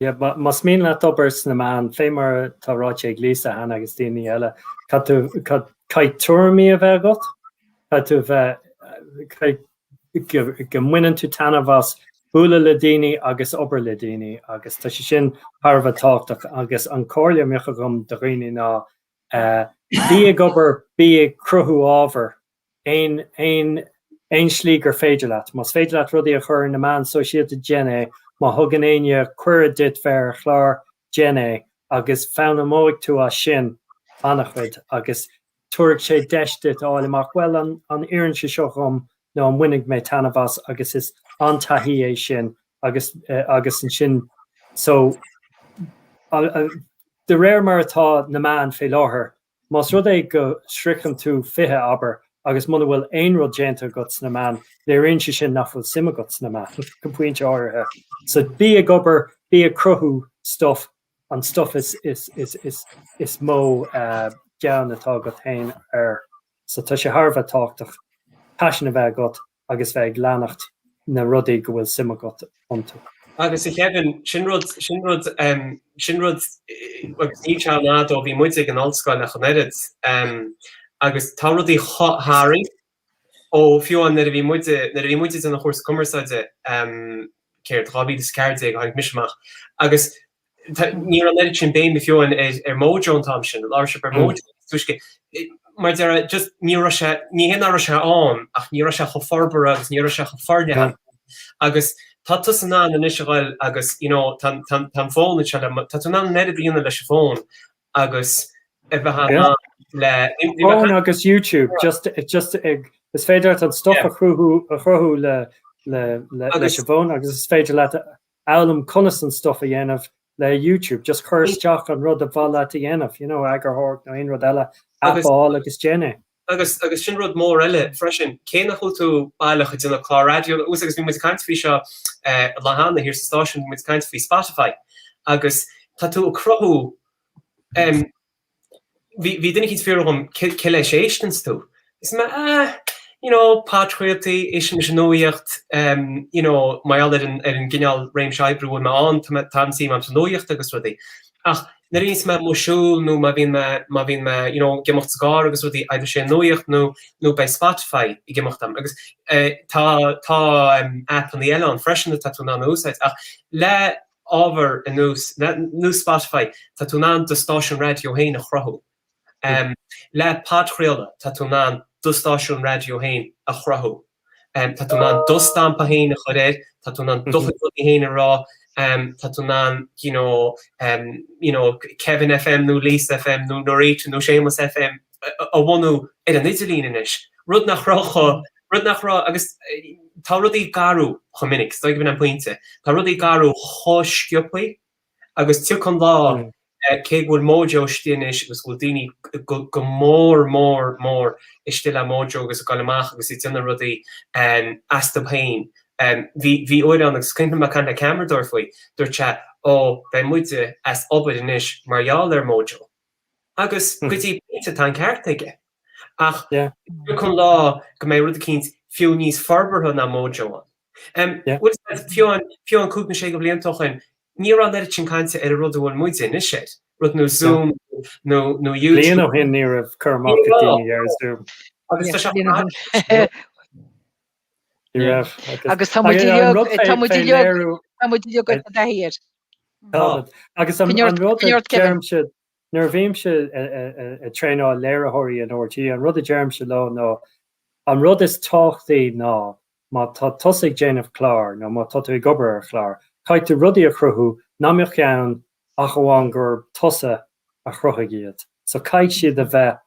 Yeah, más mian leat obair sna meáin, fé mar atá ráite ag Lisa cheana agus daoine eile, caithfidh tuairimí a bheith agat, caithfidh tú bheith, go mbaineann tú taitneamh as bualadh le daoine agus obair le daoine agus tá sé sin thar a bheith tábhachtach agus an comhairle a mbeadh agam do dhaoine ná bí ag obair, bí ag cruthú ábhar aon, aon, aon slí gur féidir leat. Más féidir leat rudaí a chur ar na meáin sóisialta déan é, má thugann éinne cuireadh duit bheith ar chlár déan é agus foghlaimeoidh tú as sin an-chuid agus tabharfaidh sé deis duit a fháil amach bhuel an, an oireann sé seo dhom nó an mbainfidh mé taitneamh as agus is an-taithí é sin agus, agus ansin so de réir mar atá na meáin fé láthair Más rud é go sroicheann tú 20, abair, agus muna bhfuil aon rud déanta agat sna meán, léiríonn sé sin nach bhfuil suim agat sna meán, go pointe áirithe. So bí ag obair, bí ag cruthú stuff, an stuff is, is, is, is, is mó gean atá agat féin air. So tá sé thar a bheith tábhachtach paisean a bheith agat agus bheith ag leanacht na rudaí go bhfuil suim agat iontu. Agus a Kevin, sin rud, sin rud, sin rud, agus níl sé an fhad ó bhí muide ag an ollscoil ach an oiread, agus tá rudaí tar éis athrú ó fiú amháin nuair a bhí muide, nuair a bhí muid ag déanamh an chúrsa cumarsáide, céard, 2014 a tháinig mise amach, agus Ní raibh an oiread sin béime fiú ar Mojo an t-am sin, labhair sibh ar Mojo níos túisce. Agus mar a déarfá, just ní raibh sé, ní hé nach raibh sé ann ach ní raibh sé chomh forbartha agus ní raibh sé chomh forleathan agus tá tusa in ann anois a ghoil agus you know tá an, tá an fón anseo le, tá tú in ann an oiread a dhéanamh leis an bhfón agus a bheith in ann le, bhí mé, fón agus YouTube, just, just ag, is féidir leat an stuff a chruthú, a chruthú le, le, leis an bhfón agus is féidir leat a, fhoghlaim conas an stuff a dhéanamh le YouTube, just cuir isteach an rud ab mhaith leat a dhéanamh, you know, eagarthóireacht nó aon rud eile, app a fháil agus déan é. Agus, agus sin rud mór eile freisin, cé nach bhfuil tú baileach ag déanamh clár raidió, nó, agus bhí muid ag caint faoi seo an lá cheana thiar sa stáisiún, bhí muid ag caint faoi Spotify, agus tá tú ag cruthú, bhí duine eicínt ag fiafraí dhíom cé leis a éisteanns tú. Éistim, ah, you know, podchraoltaí, éistimse le nuaíocht, you know, mar gheall ar an, ar an gcineál réimse oibre a bhfuil mé ann, tá mé, tá suim a'm sa nuaíocht agus rudaí. Ach nuair a bhíonns mé amuigh ag siúl nó má bhíonn mé, má bhíonn mé, you know, ag imeacht sa gcarr agus rudaí, either sé nuaíocht nó, nó beidh Spotify ag imeacht a'm. Agus tá, tá appannaí eile ann freisin atá tú in ann a úsáid ach le, ábhar ar nós, nós Spotify, tá tú in ann do stáisiún raidió féin a chruthú. Le podchraoladh, tá tú in ann do stáisiún raidió féin a chruthú. Tá tú in ann do stampa féin a chur air, tá tú in ann do chuid rudaí féin a rá, tá tú in ann you know, you know, Kevin FM nó Lisa FM nó Norita nó Séamus FM, a bhunú ar an idirlíon anois, rud nach raibh cho, rud nach raibh, agus tá rudaí ag athrú chomh minic, is dóigh gurb in an pointe, tá rudaí ag athrú chomh sciobtha agus tiocfaidh an lá, cé go bhfuil Mojo istigh anois agus go bhfuil daoine go, go mór mór mór istigh le Mojo agus ag goil amach agus ag déanamh rudaí astu féin. Bhí, bhí uair ann agus cuimhnim ag caint le ceamaradóir faoi, dúirt sé, ó beidh muide as obair anois mar gheall ar Mojo. Agus go dtí pointe tá an ceart aige. Ach tiocfaidh an lá go mbeidh rud eicínt fiú níos forbartha ná Mojo ann. Bhuel said, fiú an, fiú an cúig nó sé de bhlianta ó shoin ní raibh an oiread sin cainte ar an rud a bhfuil muide anois air. Rud nó Zoom nó, nó YouTube. Bliain ó shoin ní raibh cur amach ag daoine ar Zoom. Agus tá sé á, Ní raibh. Agus tá muid inniu dháiríre. Táimid. Agus an rud a deirimse nuair a bhímse ag traenáil léiritheoirí in RTÉ an rud a deirimse leo ná an rud is tábhachtaí ná má tá tusa ag déanamh clár nó má tá tú ag obair ar chlár caithfidh tú rudaí a chruthú nach mbeadh ann ach amháin gurb tusa a chruthaigh iad. So caithfidh siad a bheith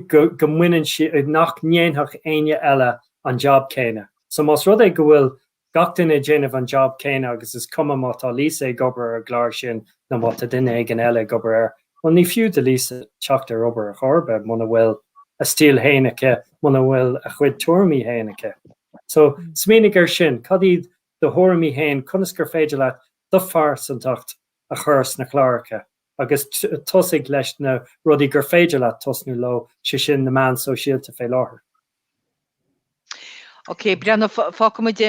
go mbaineann sí, nach ndéanfadh éinne eile an jab céanna. So más rud é go bhfuil gach duine ag déanamh an jab céanna agus is cuma má tá Lisa ag obair ar an gclár sin nó má tá duine éigin eile ag obair air, bhuel ní fiú do Lisa teacht ar obair chor ar bith muna bhfuil a stíl fhéin aici, muna bhfuil a cuid tuairimí fhéin aici. So smaoinigh ar sin, cad iad do thuairimí fhéin, conas gur féidir leat do phearsantacht a chur sna cláracha? agus tosaigh leis na rudaí gur féidir leat tosnú leo, sé sin na meáin shóisialta fé láthair. Ok, breathnaigh, fágfaidh muid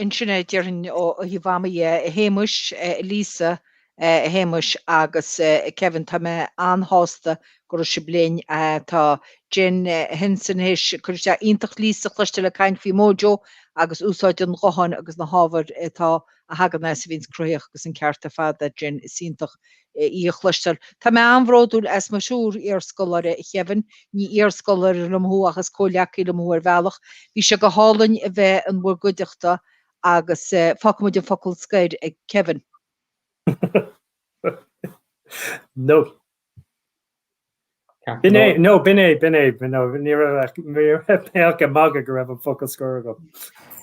ansin é déarfainn ó thaobh ama dhe. A Shéamuis, a Lisa, a Shéamuis agus a Kevin, tá mé an-shásta go raibh sibh linn. Tá Jen Henson théis cur isteach iontach Lisa chloisteáil ag caint faoi Mojo agus úsáid an ghutháin agus na hábhair atá. a thagann as a bhíonns cruthaitheach agus an ceart ar fad aici ansin is iontach í a chloisteáil. Tá mé an-bhródúil as mo thriúr iarscoláire, Kevin, ní iarscoláire liom thú ach is comhghleacaí liom thú ar bhealach. Bhí sé go hálainn a bheith in bhur gcuideachta agus fágfaidh muid an focal scoir ag Kevin. No. No, b'in é, b'in é. No, ní raibh, ní raibh mé ag magadh go raibh an focal scoir agam.